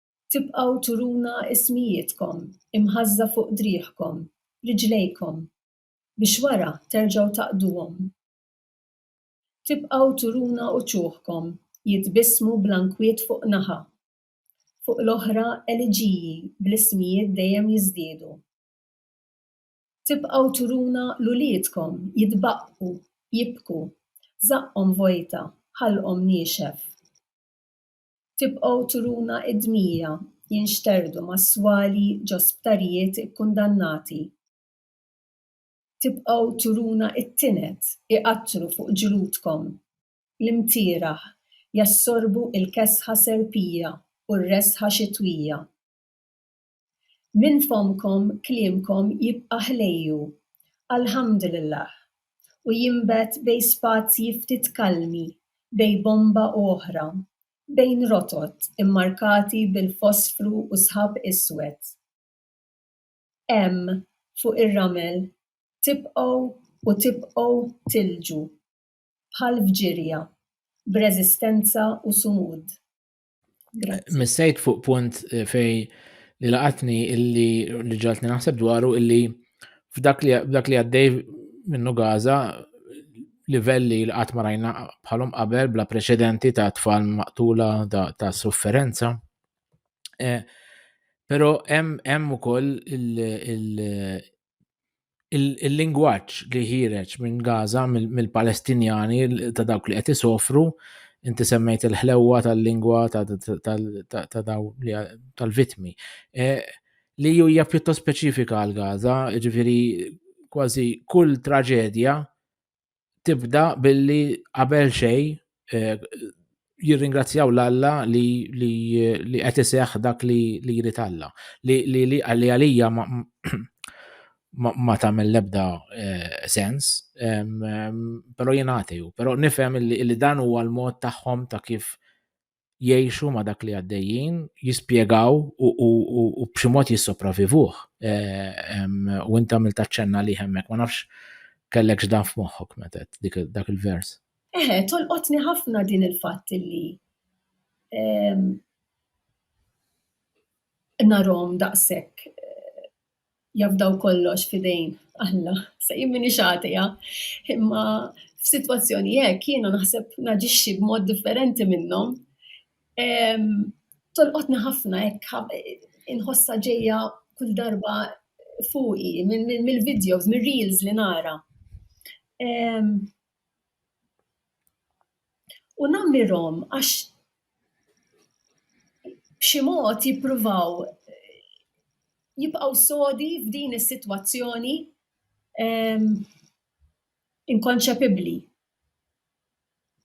Tibqgħu turuna ismijietkom imħażża fuq driegħkom, riġlejkom, biex wara terġgħu taqduhom. Tibqgħu turuna uċuħkom jitbissmu bla nkwiet fuq naħa, fuq l-oħra eliġiji bl-ismijiet dejjem jiżdiedu. Tibqgħu turuna 'l uliedkom jitbaqqu, jibku, żaqqhom vojta, ħalqhom niexef. Tibqgħu turuna d-dmija jinxterdu mas-swali ġo sptarijiet ikkundannati. Tibqgħu turuna t-tined iqattru fuq ġludkom. L-imtieraħ jassorbu l-kesħa serpija u r-resħa xitwija. Minn fommkom kliemkom jibqa' ħlejju, Alhamdulillah, u jinbet bejn spazji ftit kalmi bejn bomba u oħra, bejn rotot immarkati bil-fosfru u sħab iswed. Hemm, fuq ir-ramel, tibqgħu u tibqgħu tilġu, bħal fġirja, b'reżistenza u sumud. Missejt fuq punt eh, fej li laqatni illi li ġaltni naħseb dwaru illi f'dak li għaddej minnu Gaza livelli li qatt ma rajna bħalhom qabel bla preċedenti ta' tfal maqtula ta' sofferenza. Eh, Pero hemm ukoll il-lingwaġġ li ħireġ minn Gaza mill-Palestinjani ta' dawk li qed isofru, inti semmejt il-ħlewwa tal-lingwa ta' daw tal-vitmi. E, li hija pjuttost speċifika għal Gaza, ġifieri kważi kull traġedja tibda billi qabel xej eh, jirringrazzjaw l-Alla li qed iseħħ dak li jrid Alla. Li għalija ma tagħmel l-ebda eh, sens, però jien atew, però nifhem li dan huwa l-mod tagħhom ta' kif jgħixu ma' dak li għaddejjin, jispjegaw u b'xi mod jissopravivuh. Eh, u inta mill taċċenna li hemmek, ma nafx kellek x'dan f'moħħok metet dak il-vers. Eħe, eh, tolqotni ħafna din il-fatt li narom daqshekk eh, jafdaw kollox f'idejn Alla. Sa jien m'iniex għatija, imma f'sitwazzjoni hekk jiena naħseb naġixxi b'mod differenti minnhom. Ehm, tolqotni ħafna hekk inħossha ġejja kull darba fuqi mill-videos, mir-reels li nara. Ehm, U nammirhom għax b'xi mod jippruvaw jibqgħu sodi f'din is-sitwazzjoni ehm, inkonċepibbli.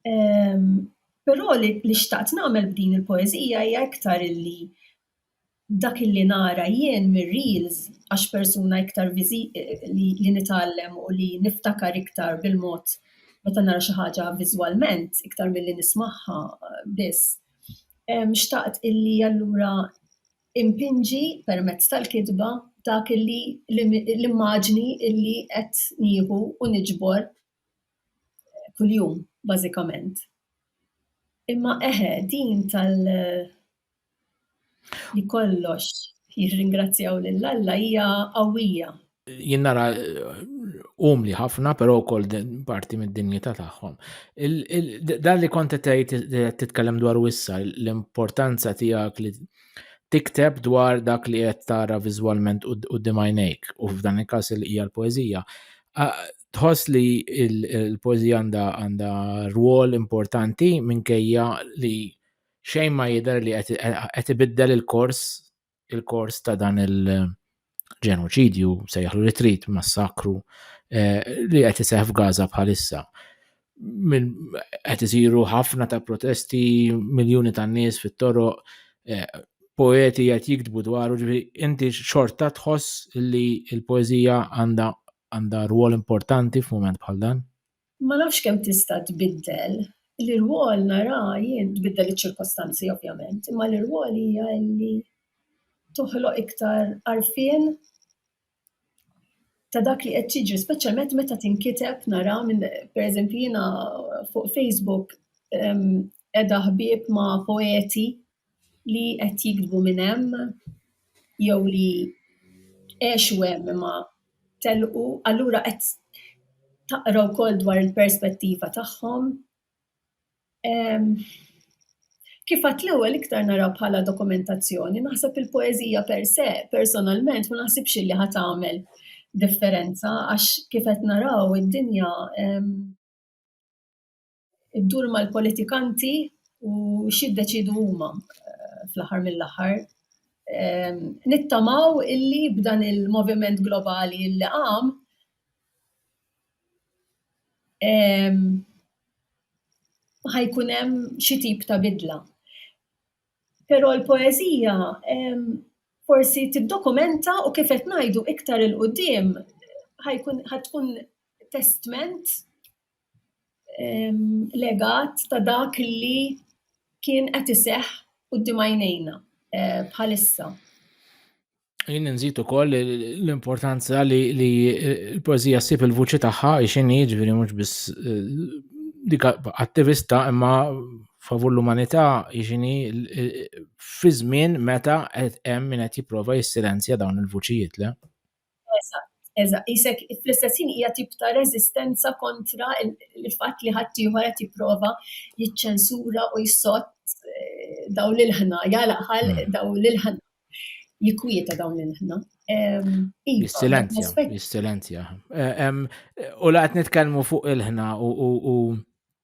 Ehm, però li xtaqt nagħmel b'din il-poeżija hija iktar illi dak illi nara jien mir-reels għax persuna iktar li nitgħallem u li niftakar iktar bil-mod meta nara xi ħaġa viżwalment iktar milli nismagħha biss, xtaqt illi allura impinġi permezz tal-kitba dak illi l-immaġni illi qed nieħu u niġbor kuljum bażikament. Imma eħe, din tal- Li kollox jirringrazzjaw lil Alla hija qawwija. Jien nara umli ħafna, però wkoll parti mid-dinjità tagħhom. Dan li kont tgħid titkellem dwar wissa l-importanza tiegħek li tikteb dwar dak li qed tara viżwalment u dimajnejk u f'dan il-każ hija l-poeżija. Tħoss li l-poeżija għandha rwol importanti minkejja li xejn ma jidher li qed ibiddel il-kors il-kors ta' dan il-ġenoċidju sejħlu li trid massakru eh, li qed iseħ f'Gaza bħalissa. Qed isiru ħafna ta' protesti, miljuni ta' nies fit-toroq, eh, poeti qed jiktbu dwaru ġifi inti xorta tħoss li l-poeżija għandha għandha rwol importanti f'mument bħal dan? Ma nafx kemm tista' tbiddel, l-irwol nara jien, tbiddel iċ-ċirkostanzi ovvjament, imma l-irwol hija li toħloq iktar għarfien ta' dak li qed jiġri, speċjalment meta tinkiteb nara minn pereżempju jiena fuq Facebook qiegħda ħbieb ma' poeti li qed jikdbu minn hemm jew li għexu hemm imma telqu, allura qed taqra wkoll dwar il-perspettiva tagħhom. Kif għedt l-ewwel iktar nara bħala dokumentazzjoni, naħseb il-poeżija per se, personalment ma naħsibx li ħa tagħmel differenza għax kif qed naraw id-dinja iddur mal-politikanti u xiddeċidu huma eh, fl-aħħar mill-aħħar. Ehm, nittamaw illi b'dan il-moviment globali illi għam ehm, ħajkun hemm xi tip ta' bidla. Però l-poeżija ehm, forsi tiddokumenta u kif qed ngħidu iktar il-qudiem ħajkun ħatkun testment legat ta' dak li kien qed iseħħ quddiem għajnejna eh, bħalissa. Jien nżid ukoll l-importanza li l-poezija ssib il-vuċi tagħha x'inhi jiġifieri mhux biss eh, dik attivista imma favur l-umanità jiġini fi żmien meta qed hemm min qed jipprova jissilenzja dawn il-vuċijiet le. Eżatt, eżatt. Qisek fl-istess ħin hija tip ta' reżistenza kontra l-fatt li ħaddieħor qed jipprova jiċċensura u jsott daw l-ilħna, jagħlaq ħal hmm. daw l-ilħna, jikwieta dawn l-ilħna. Iva, jissilenzja, jissilenzja. Eh, u laqt nitkellmu fuq ilħna u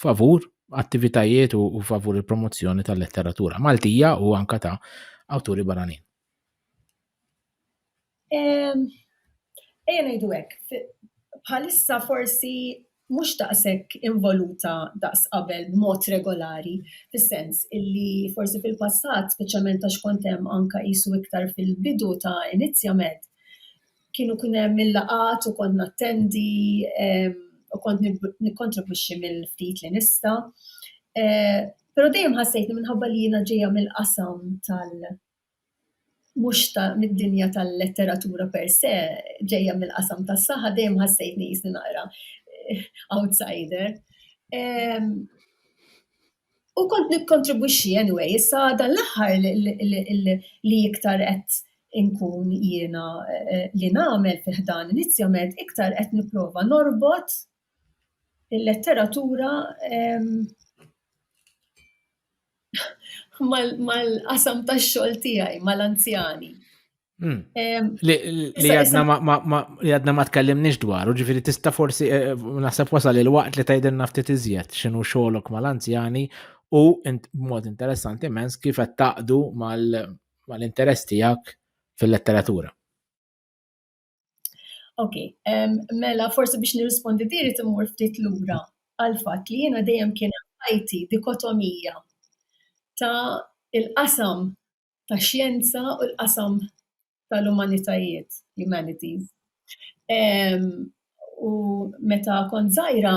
favur attivitajiet u, u favur il-promozzjoni tal-letteratura Maltija u anka ta' awturi barranin. Ejja ngħidu hekk, bħalissa forsi mhux daqshekk involuta daqs qabel b'mod regolari, fis-sens illi forsi fil-passat, speċjalment għax kont hemm anke qisu iktar fil-bidu ta' inizjament, kienu kien hemm il-laqat u kont nattendi u kont nikkontribwixxi mill-ftit li nista. Eh, però dejjem ħassejt li minħabba li jiena ġejja mill-qasam tal- mhux ta' mid-dinja tal-letteratura per se, ġejja mill-qasam tas-saħħa dejjem ħassejtni jisni naqra eh, outsider. U kont nikkontribwixxi anyway, issa dan l-aħħar li iktar qed inkun jiena li nagħmel fi ħdan Inizjament iktar qed nipprova norbot il-letteratura mal-qasam tax-xogħol tiegħi, mal-anzjani. Hmm. Li għadna ma tkellimniex dwaru, ġifiri tista forsi eh, eh, naħseb wasal il-waqt li tajden naftit iżjed xinu xolok mal-anzjani u mod interessanti mens kif qed taqdu mal-interess tiegħek fil-letteratura. Ok, mela forsi biex nirrispondi diri timur ftit lura għal fatt li jiena dejjem kien ħajti dikotomija ta' il-qasam tax-xjenza u l-qasam tal-umanitajiet, humanities. U meta kont żgħira,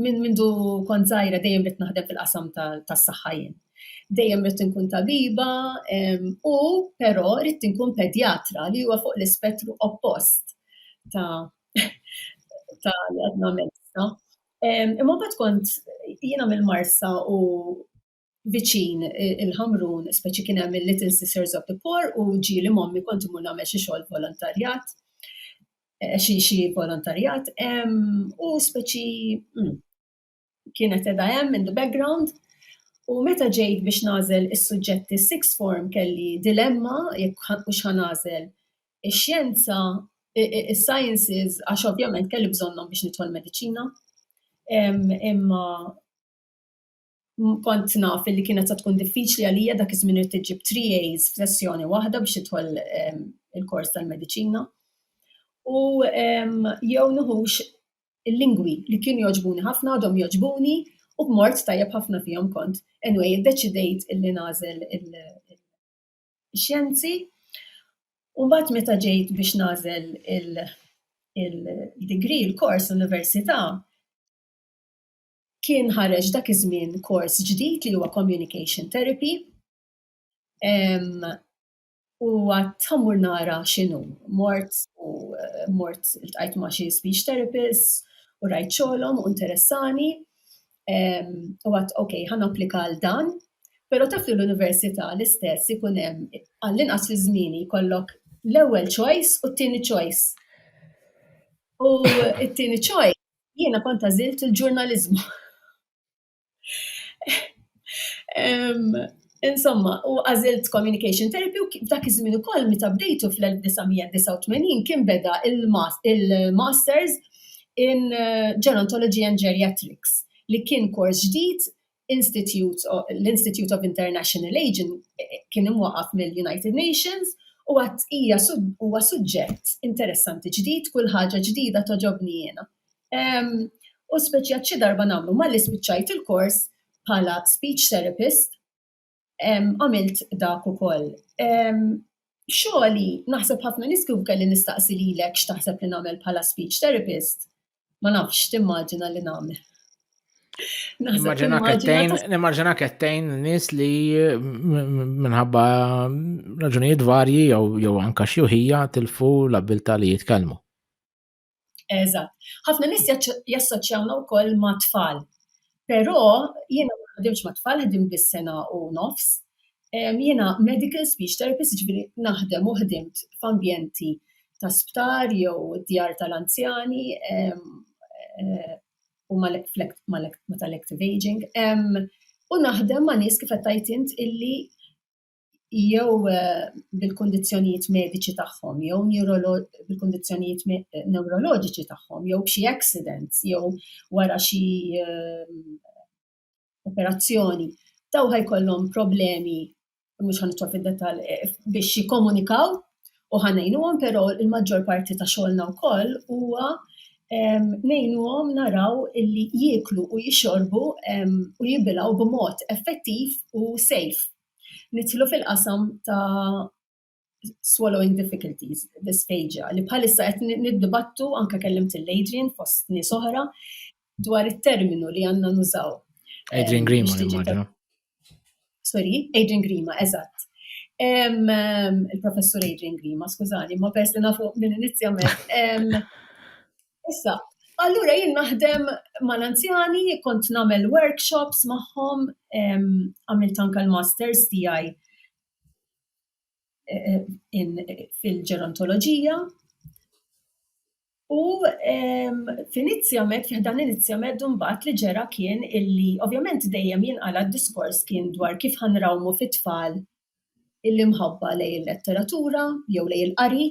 minn mindu kont żgħira dejjem rid naħdem fil-qasam tas-saħħa jien. Dejjem rid inkun tabiba u però rid inkun pedjatra li huwa fuq l-ispettru oppost ta' ta' li għadna mezza. Imma bat kont jiena mill-Marsa u viċin il-Ħamrun, speċi kien hemm il-Little Sisters of the Poor u ġieli mommi kont imur nagħmel xi xogħol volontarjat, eh, xi xi volontarjat, u speċi mm, kienet edha hemm in the background. U meta ġejt biex nażel is-suġġetti six form kelli dilemma jekk hux ħanażel ix-xjenza, is-sciences għax ovvjament kelli bżonnhom biex nidħol mediċina. Imma Kont naf li kienet se tkun diffiċli għalija dak iż-żmien irid tiġib 3 A's f'sessjoni waħda biex tidħol ehm, il-kors tal-mediċina. U ehm, jew nħux il-lingwi li kienu joġbuni ħafna għadhom joġbuni u b'mort tajjeb ħafna fihom kont. Anyway, iddeċidejt illi nażel il-xjenzi u mbagħad meta ġejt biex nażel il-degree, il-kors, l-università, kien ħareġ dak iż-żmien kors ġdid li huwa Communication Therapy. U għat ħammur nara xinu, mort u eh, mort il-tqajt ma xie speech therapist u rajt xolom u interessani. U għat, ok, ħan applika għal dan, pero taf li l-università l-istess ikunem għall-inqas fi zmini kollok l-ewel choice u t-tini choice. U t-tini choice Jiena kont għażilt il-ġurnaliżmu. Insomma, u għażilt communication therapy u dak iż-żmien ukoll meta bdejtu fl-1989 kien beda il-masters in gerontology and geriatrics li kien kors ġdid l-Institute of International Aging kien imwaqqaf mill-United Nations u għad hija huwa suġġett interessanti ġdid, kull ħaġa ġdida toġobni jiena. U speċjat xi darba nagħmlu malli spiċċajt il-kors bħala speech therapist Għamilt dak ukoll. Xogħli, naħseb ħafna nies kif kelli nistaqsi lilek x'taħseb li nagħmel bħala speech therapist, ma nafx timmaġina li nagħmel. Nimmaġina kettejn nis li minħabba raġunijiet varji jew anka xjuħija tilfu l-abilta li jitkellmu. Eżatt. Ħafna nies jassoċjawna wkoll ma' tfal. Però jiena ma ħdimx ma' tfal, ħdim biss sena u nofs. Jiena medical speech therapist, ġifieri naħdem u ħdimt f'ambjenti ta' sptar jew djar tal-anzjani u mal-active aging. U naħdem ma' nies kif qed tgħid int illi jew eh, bil-kundizzjonijiet mediċi tagħhom, jew bil-kundizzjonijiet neuroloġiċi tagħhom, jew b'xi accidents, jew wara xi eh, operazzjoni, daw ħajkollhom problemi mhux ħanitwa fid-detal eh, biex jikkomunikaw u ħanejnuhom, però il-maġġor parti ta' xogħolna wkoll huwa nejnuhom naraw illi jieklu u jixorbu u jibilaw b'mod effettiv u safe Nidħlu fil-qasam ta' swallowing difficulties, dysphagia, li bħalissa qed niddibattu anke kellimt il-Adrian fost nies oħra dwar it-terminu li għandna nużaw. Adrian eh, Grima immaġina. Sorry, Adrian Grima, eżatt. Il-professur Adrian Grima, skużani, ma pers li nafu minn inizjament. Issa, allura jien naħdem mal-anzjani, kont nagħmel workshops magħhom, għamilt anke l-masters tiegħi eh, eh, fil-ġerontoloġija. U f'inizjament, fiħdan inizjament mbagħad li ġera kien illi ovvjament dejjem jinqala d-diskors kien dwar kif ħanrawmu fit-tfal l-imħabba lej il-letteratura jew lej il-qari.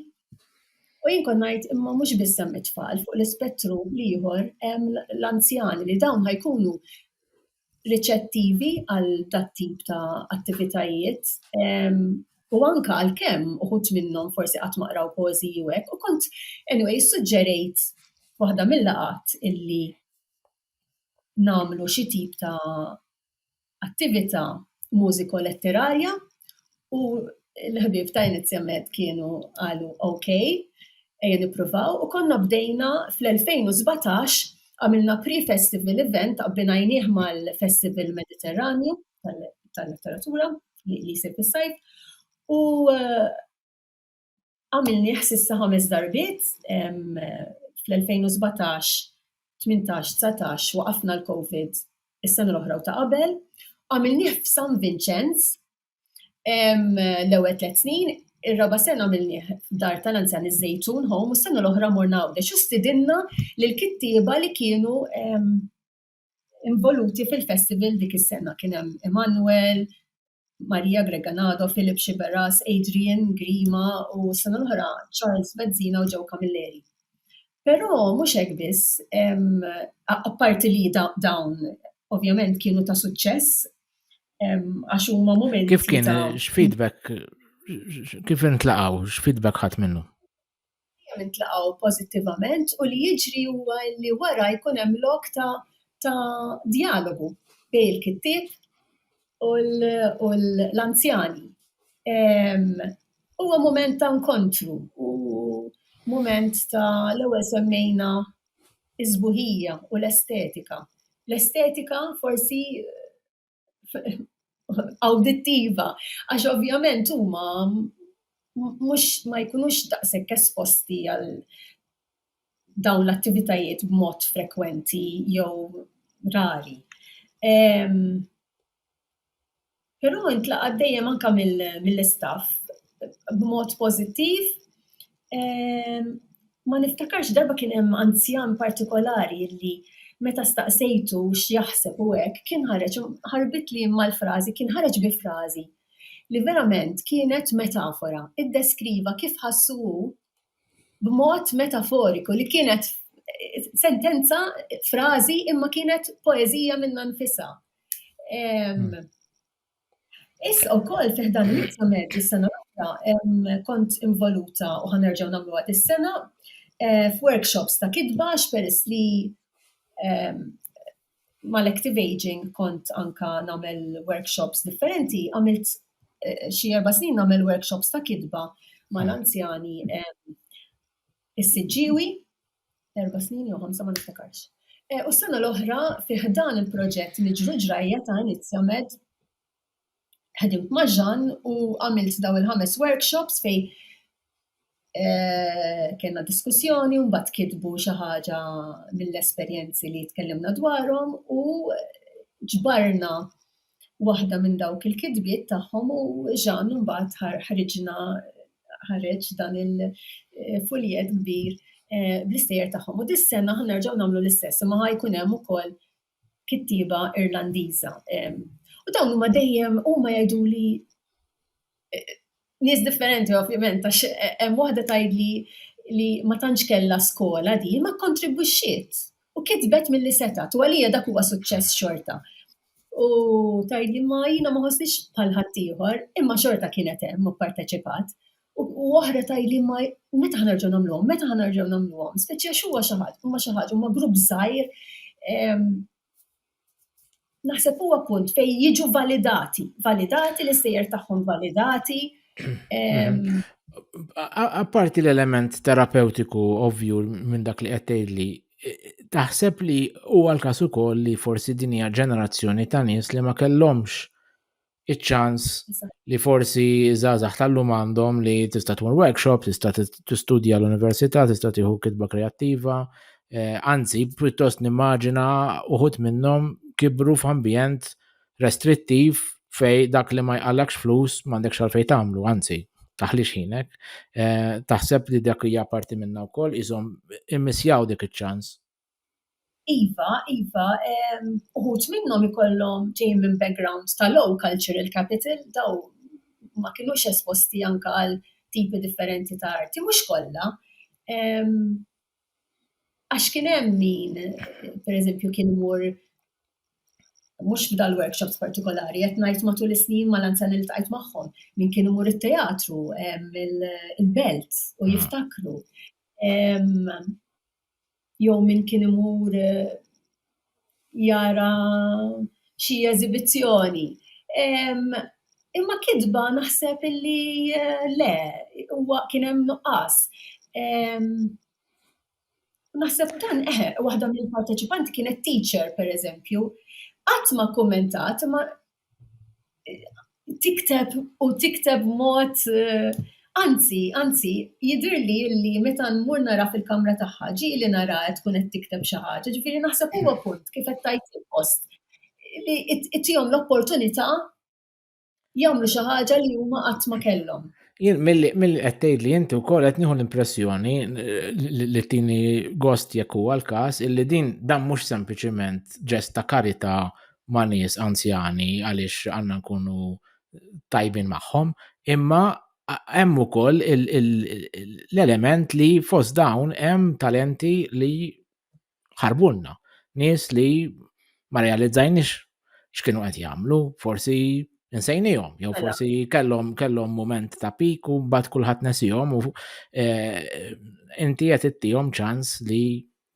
U jien kon ngħid imma mhux biss hemm it-tfal fuq l-ispettru l-ieħor hemm l-anzjani li dawn ħajkunu riċettivi għal dat tip ta' attivitajiet ehm, u anka għal kemm uħut minnhom forsi qatt maqraw poeżiji u hekk u kont anyway suġġerejt waħda mill-laqat illi namlu xi tip ta' attività mużiko-letterarja u l-ħbieb ta' inizjament kienu qalu ok, ejja nippruvaw u konna bdejna fl-2017 għamilna pre-festival event abbinajnieh mal-Festival Mediterranju tal-Letteratura li jsir fis-sajf u Għamilnieh s'issa ħames darbiet, fl-2017, 18, 19 waqafna l-Covid is-sena l-oħra u ta' qabel. Għamilnieh f'San Vinċenz l-ewwel tliet snin, ir-raba' sena għamilnieh f'dar tal-anzjani Żejtun Home u s-sena l-oħra morna Għawdex u stidinna lill-kittieba li kienu involuti fil-festival dik is-sena kien hemm Emanuel, Maria Greganado, Philip Xiberas, Adrian Grima u sena l-oħra Charles Bezzina u Joe Camilleri. Però mhux hekk biss, apparti li dawn ovvjament kienu ta' suċċess għax huma momenti. Kif kien x'feedback kif intlaqgħu x'feedback ħadd minnu? dejjem intlaqgħu pożittivament u li jiġri huwa li wara jkun hemm lok ta' ta' dialogu bejn il-kittieb u l-anzjani. Huwa mument ta' nkontru u mument ta' l-ewwel semmejna s-sbuħija u l-estetika. L-estetika forsi awdittiva, għax ovvjament huma mhux ma jkunux daqshekk esposti għal dawn l-attivitajiet b'mod frekwenti jew rari. Però intlaqgħet dejjem anke mill-istaff b'mod pożittiv Ma niftakarx darba kien hemm anzjan partikolari li meta staqsejtu x'jaħseb u hekk, kien ħareġ, ħarbitli imma l-frażi, kien ħareġ bi frażi li verament kienet metafora, iddeskriva kif ħassu hu b'mod metaforiku li kienet sentenza, frażi imma kienet poeżija minnha nnifisha. Issa wkoll fi ħdan l-Insa Medju s-sena l-oħra kont involuta u ħanerġgħu nagħmluha dis-sena eh, f'workshops ta' kitba x'peress li ehm, mal-active aging kont anka nagħmel workshops differenti, għamilt eh, xi erba' snin nagħmel workshops ta' kitba mal-anzjani ehm, is-siġġiewi erba' snin jew ħamsa ma niftakarx. Eh, u s-sena l-oħra fi ħdan il-proġett Niġru Ġrajja ta' Inizja Med ħedimt ma' Ġan u għamilt daw il-ħames workshops fej eh, kena diskussjoni un bat kitbu xi ħaġa mill-esperjenzi li tkellimna dwarhom u ġbarna Waħda minn dawk il-kitbiet tagħhom u Jean imbagħad ħariġna ħareġ dan il-fuljett kbir eh, bl-istejjer tagħhom. U dis-sena ħa nerġgħu nagħmlu l-istess, imma ħa jkun hemm ukoll kittieba Irlandiża. U dawn huma dejjem huma jgħidu li nies differenti ovvjament għax hemm waħda tgħidli li ma tantx kellha skola di ma kontribwixxiet u kitbet milli setgħet u għalija dak huwa suċċess xorta. U tgħidli ma jiena ma ħossniex bħal ħaddieħor imma xorta kienet hemm u pparteċipat. U oħra tgħidli ma meta ħanerġgħu nagħmluhom, meta ħanerġgħu nagħmluhom, speċi għax huwa xi ħadd, huma xi ħadd, huma grupp żgħir naħseb huwa punt fejn jiġu validati, validati l-istejjer tagħhom validati. Apparti l-element terapeutiku ovvju minn dak li qed tgħidli, taħseb li huwa l-każ ukoll li forsi din hija ġenerazzjoni ta' nies li ma kellhomx iċ-ċans li forsi żgħażagħ tal-lum għandhom li tista' tmur workshop, tista' tistudja l-università, tista' tieħu kitba kreattiva, eh, anzi pjuttost nimmaġina uħut minnhom kibru f'ambjent restrittiv fej dak li ma jqallakx flus m'għandekx għalfej tagħmlu, anzi taħlix ħinek, eh, taħseb li dak hija parti minna wkoll iżhom immissjaw dik iċ-ċans Iva, iva, uħud minnhom ikollhom ġejjin minn background ta' low cultural capital, dawn ma kinux esposti anka għal tipi differenti ta' arti, mhux kollha. Għax kien hemm min, per eżempju, kien imur, mhux f'dal-workshops partikolari, qed ngħid matul is-snin mal-anzjani li ltqajt magħhom, min kien imur it-teatru, il-belt, u jiftakru. jew min kien imur jara xi eżibizzjoni. Imma kitba naħseb illi le, huwa kien hemm nuqqas. Naħseb dan eħe, waħda mill-parteċipanti kienet teacher, pereżempju, qatt ma kkummentat imma tikteb u tikteb mod eh, anzi, anzi, jidir li li meta nmur nara fil-kamra tagħha ġi li nara qed tkun qed tikteb xi ħaġa, ġifieri naħseb huwa punt kif qed tajt il-post li ittihom l-opportunità jagħmlu xi ħaġa li huma qatt ma kellhom. Jien mill-li qed tgħid li inti wkoll qed nieħu l-impressjoni li tini gost jekk huwa l-każ illi din dan mhux sempliċement ġest ta' karità ma' nies anzjani għaliex għandna nkunu tajbin magħhom, imma hemm ukoll l-element li fost dawn hemm talenti li ħarbulna, nies li ma realizzajniex x'kienu qed jagħmlu, forsi insejnihom, jew mela. forsi kellhom kellhom mument ta' pik u mbagħad kulħadd nesihom u eh, inti qed ittihom ċans li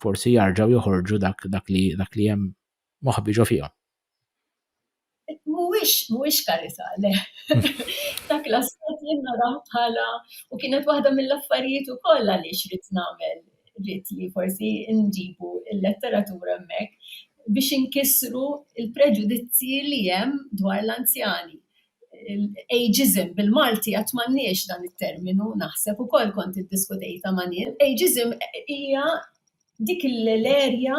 forsi jarġgħu joħorġu dak dak li dak li hemm moħbi ġo fihom. Mhuwiex, mhuwiex karità, le. Dak l-aspett jien narah bħala, u kienet waħda mill-affarijiet ukoll għaliex ridt nagħmel, ridt li forsi nġibu l-letteratura hemmhekk, biex inkissru l-preġudizzji li hemm dwar l-anzjani. Ageism, bil-Malti għad m'għandniex dan it-terminu, naħseb ukoll kont iddiskutejtha ma' nies. Ageism hija dik l-erja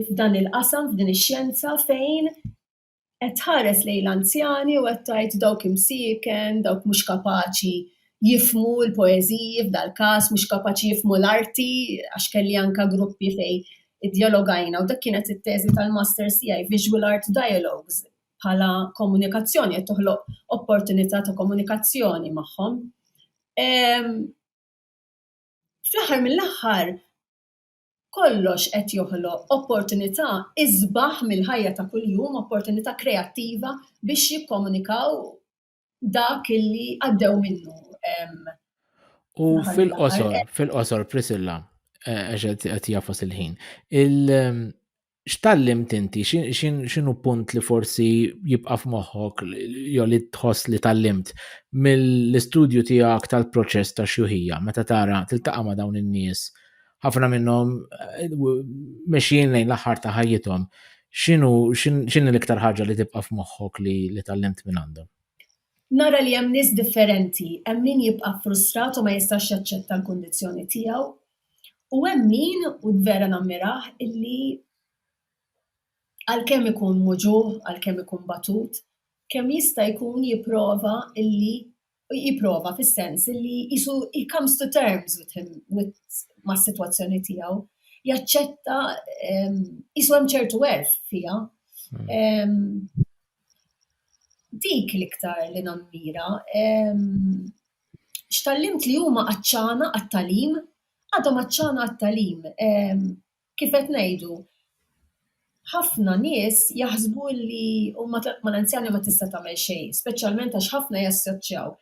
f'dan il-qasam, f'din ix-xjenza fejn qed tħares lejn l-anzjani u qed tgħid dawk imsieken, dawk mhux kapaċi jifmu l-poeżiji f'dal-każ, mhux kapaċi jifmu l-arti, għax kelli anka gruppi fej id-dialogajna u dak kienet it-teżi tal-masters tiegħi, visual art dialogues, bħala komunikazzjoni, qed toħloq opportunità ta' komunikazzjoni magħhom. Fl-aħħar mill-aħħar, kollox qed joħloq opportunità isbaħ mill-ħajja ta' kuljum, opportunità kreattiva biex jikkomunikaw dak illi għaddew minnu. U fil-qosor, fil-qosor, Prisilla, eh, għaxet għet jaffas il-ħin. x'tallimt inti? X'inhu punt li forsi jibqa' f'moħħok jew li tħoss li tallimt mill-istudju tiegħek tal-proċess ta' xjuħija meta tara tiltaqa' ma' dawn in-nies ħafna minnhom eh, mexjin lejn l-aħħar ta' ħajjithom. X'inhu x'inhi l-iktar ħaġa li tibqa' f'moħħok li li tallimt minn għandhom? Nara li hemm nies differenti, hemm min jibqa' frustrat u ma jistax jaċċetta l-kundizzjoni tiegħu, U hemm min, u vera nammirah, illi għalkemm ikun muġugħ, għalkemm ikun batut, kemm jista' jkun jipprova illi, jipprova fis-sens illi qisu he comes to terms with him, with, mas-sitwazzjoni tiegħu, jaċċetta, qisu hemm ċertu għerf fiha. Dik l-iktar li nammira. x'tgħallimt li huma għatxana għat-tagħlim, għadhom għatxana għat-tagħlim. Kif qed ngħidu, ħafna nies jaħsbu li huma ma' l-anzjani ma tista' tagħmel xejn, speċjalment għax ħafna jassoċjaw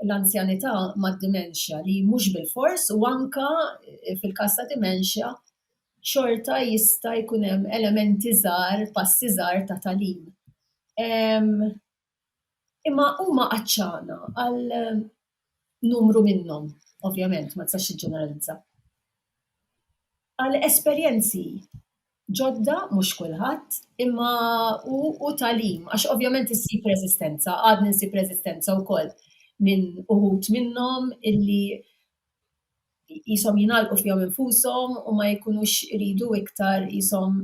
l-anzjanità mad-dementia li mhux bilfors u anke fil-każ ta' dementia xorta jista' jkun hemm elementi żgħar, passi żgħar ta' tagħlim. Imma huma għatxana għal numru minnhom, ovvjament ma tistax tiġġeneralizza, għal esperjenzi ġodda, mhux kulħadd, imma u u tagħlim għax ovvjament issib reżistenza, għadni nsib reżistenza wkoll minn uħud minnhom illi qishom jingħalqu fihom infushom u ma jkunux iridu iktar qishom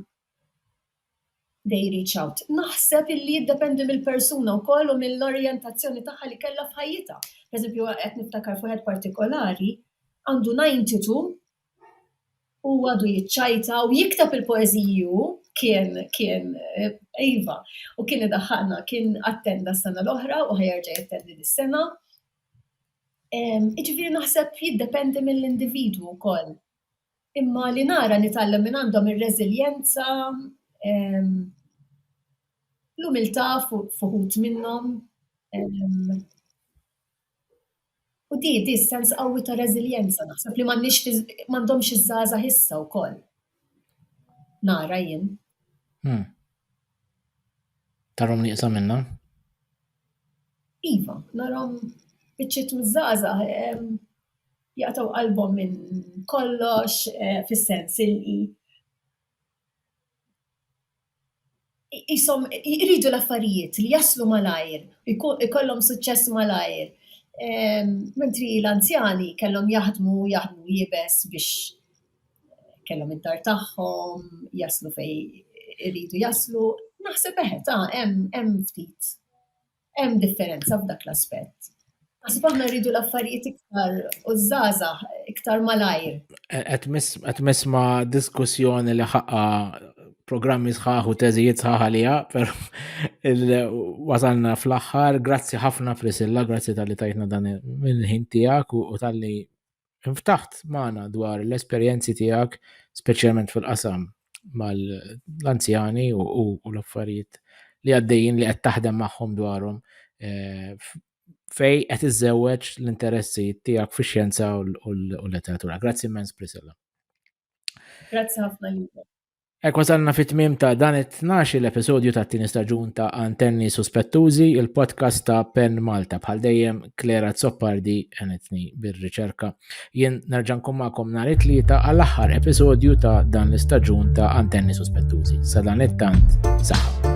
they reach out. Naħseb illi jiddependi mill-persuna wkoll u mill-orjentazzjoni tagħha li kellha f'ħajjitha. Pereżempju, qed niftakar f'wieħed partikolari, għandu 92 u għadu jiċċajta u jikteb il-poeżiji hu, kien, kien, iva, u kien idaħħaqna, kien attenda s-sena l-oħra u ħajerġa' jattendi dis-sena. Iġifieri naħseb jiddependi mill-individwu wkoll. Imma li nara nitgħallem minn għandhom ir-reżiljenza, l-umiltà f'uħud minnhom. U di, di sens qawwi ta' reżiljenza, naħseb li m'għandhomx iż-żgħażagħ issa wkoll. Nara jien. Hmm. Tarom nieqsa minna? Iva, narom biċċiet miż-żgħażagħ jaqtaw qalbhom minn kollox eh, fis-sens li jisom jridu l-affarijiet li jaslu malajr, ikollhom suċċess malajr. Ehm, mentri l-anzjani kellhom jaħdmu, jaħdmu jibes biex kellhom id-dar tagħhom, jaslu fej iridu jaslu, naħseb eħe ta' hemm ftit Hemm differenza f'dak l-aspett. Għasib aħna rridu l-affarijiet iktar u zaza iktar malajr. Għet misma diskussjoni li ħaqqa programmi sħaħ u teżijiet sħaħ għalija, per wasalna fl-axħar, grazzi ħafna Prisilla, grazzi tal-li tajtna dan il-ħin tijak u tal-li inftaħt magħna dwar l-esperjenzi tiegħek, speċjalment fil-qasam mal-anzjani u l-affarijiet li għaddejjin li qed taħdem magħhom dwarhom eh, fej qed iżżewweġ l-interessi tiegħek fix-xjenza u l-letteratura. Grazzi immens Priscilla. Grazzi ħafna Ek wasalna fit tmim ta' dan it-12 l-episodju ta' tini staġun ta' Antenni Suspettużi, il-podcast ta' Pen Malta. Bħal dejjem, Klera Zoppardi enetni bir-riċerka. Jien nerġan kum ma'kom nar it-tlieta għall-aħħar episodju ta' dan l-istaġun ta' Antenni Suspettużi. Sa dan it-tant, saħħa.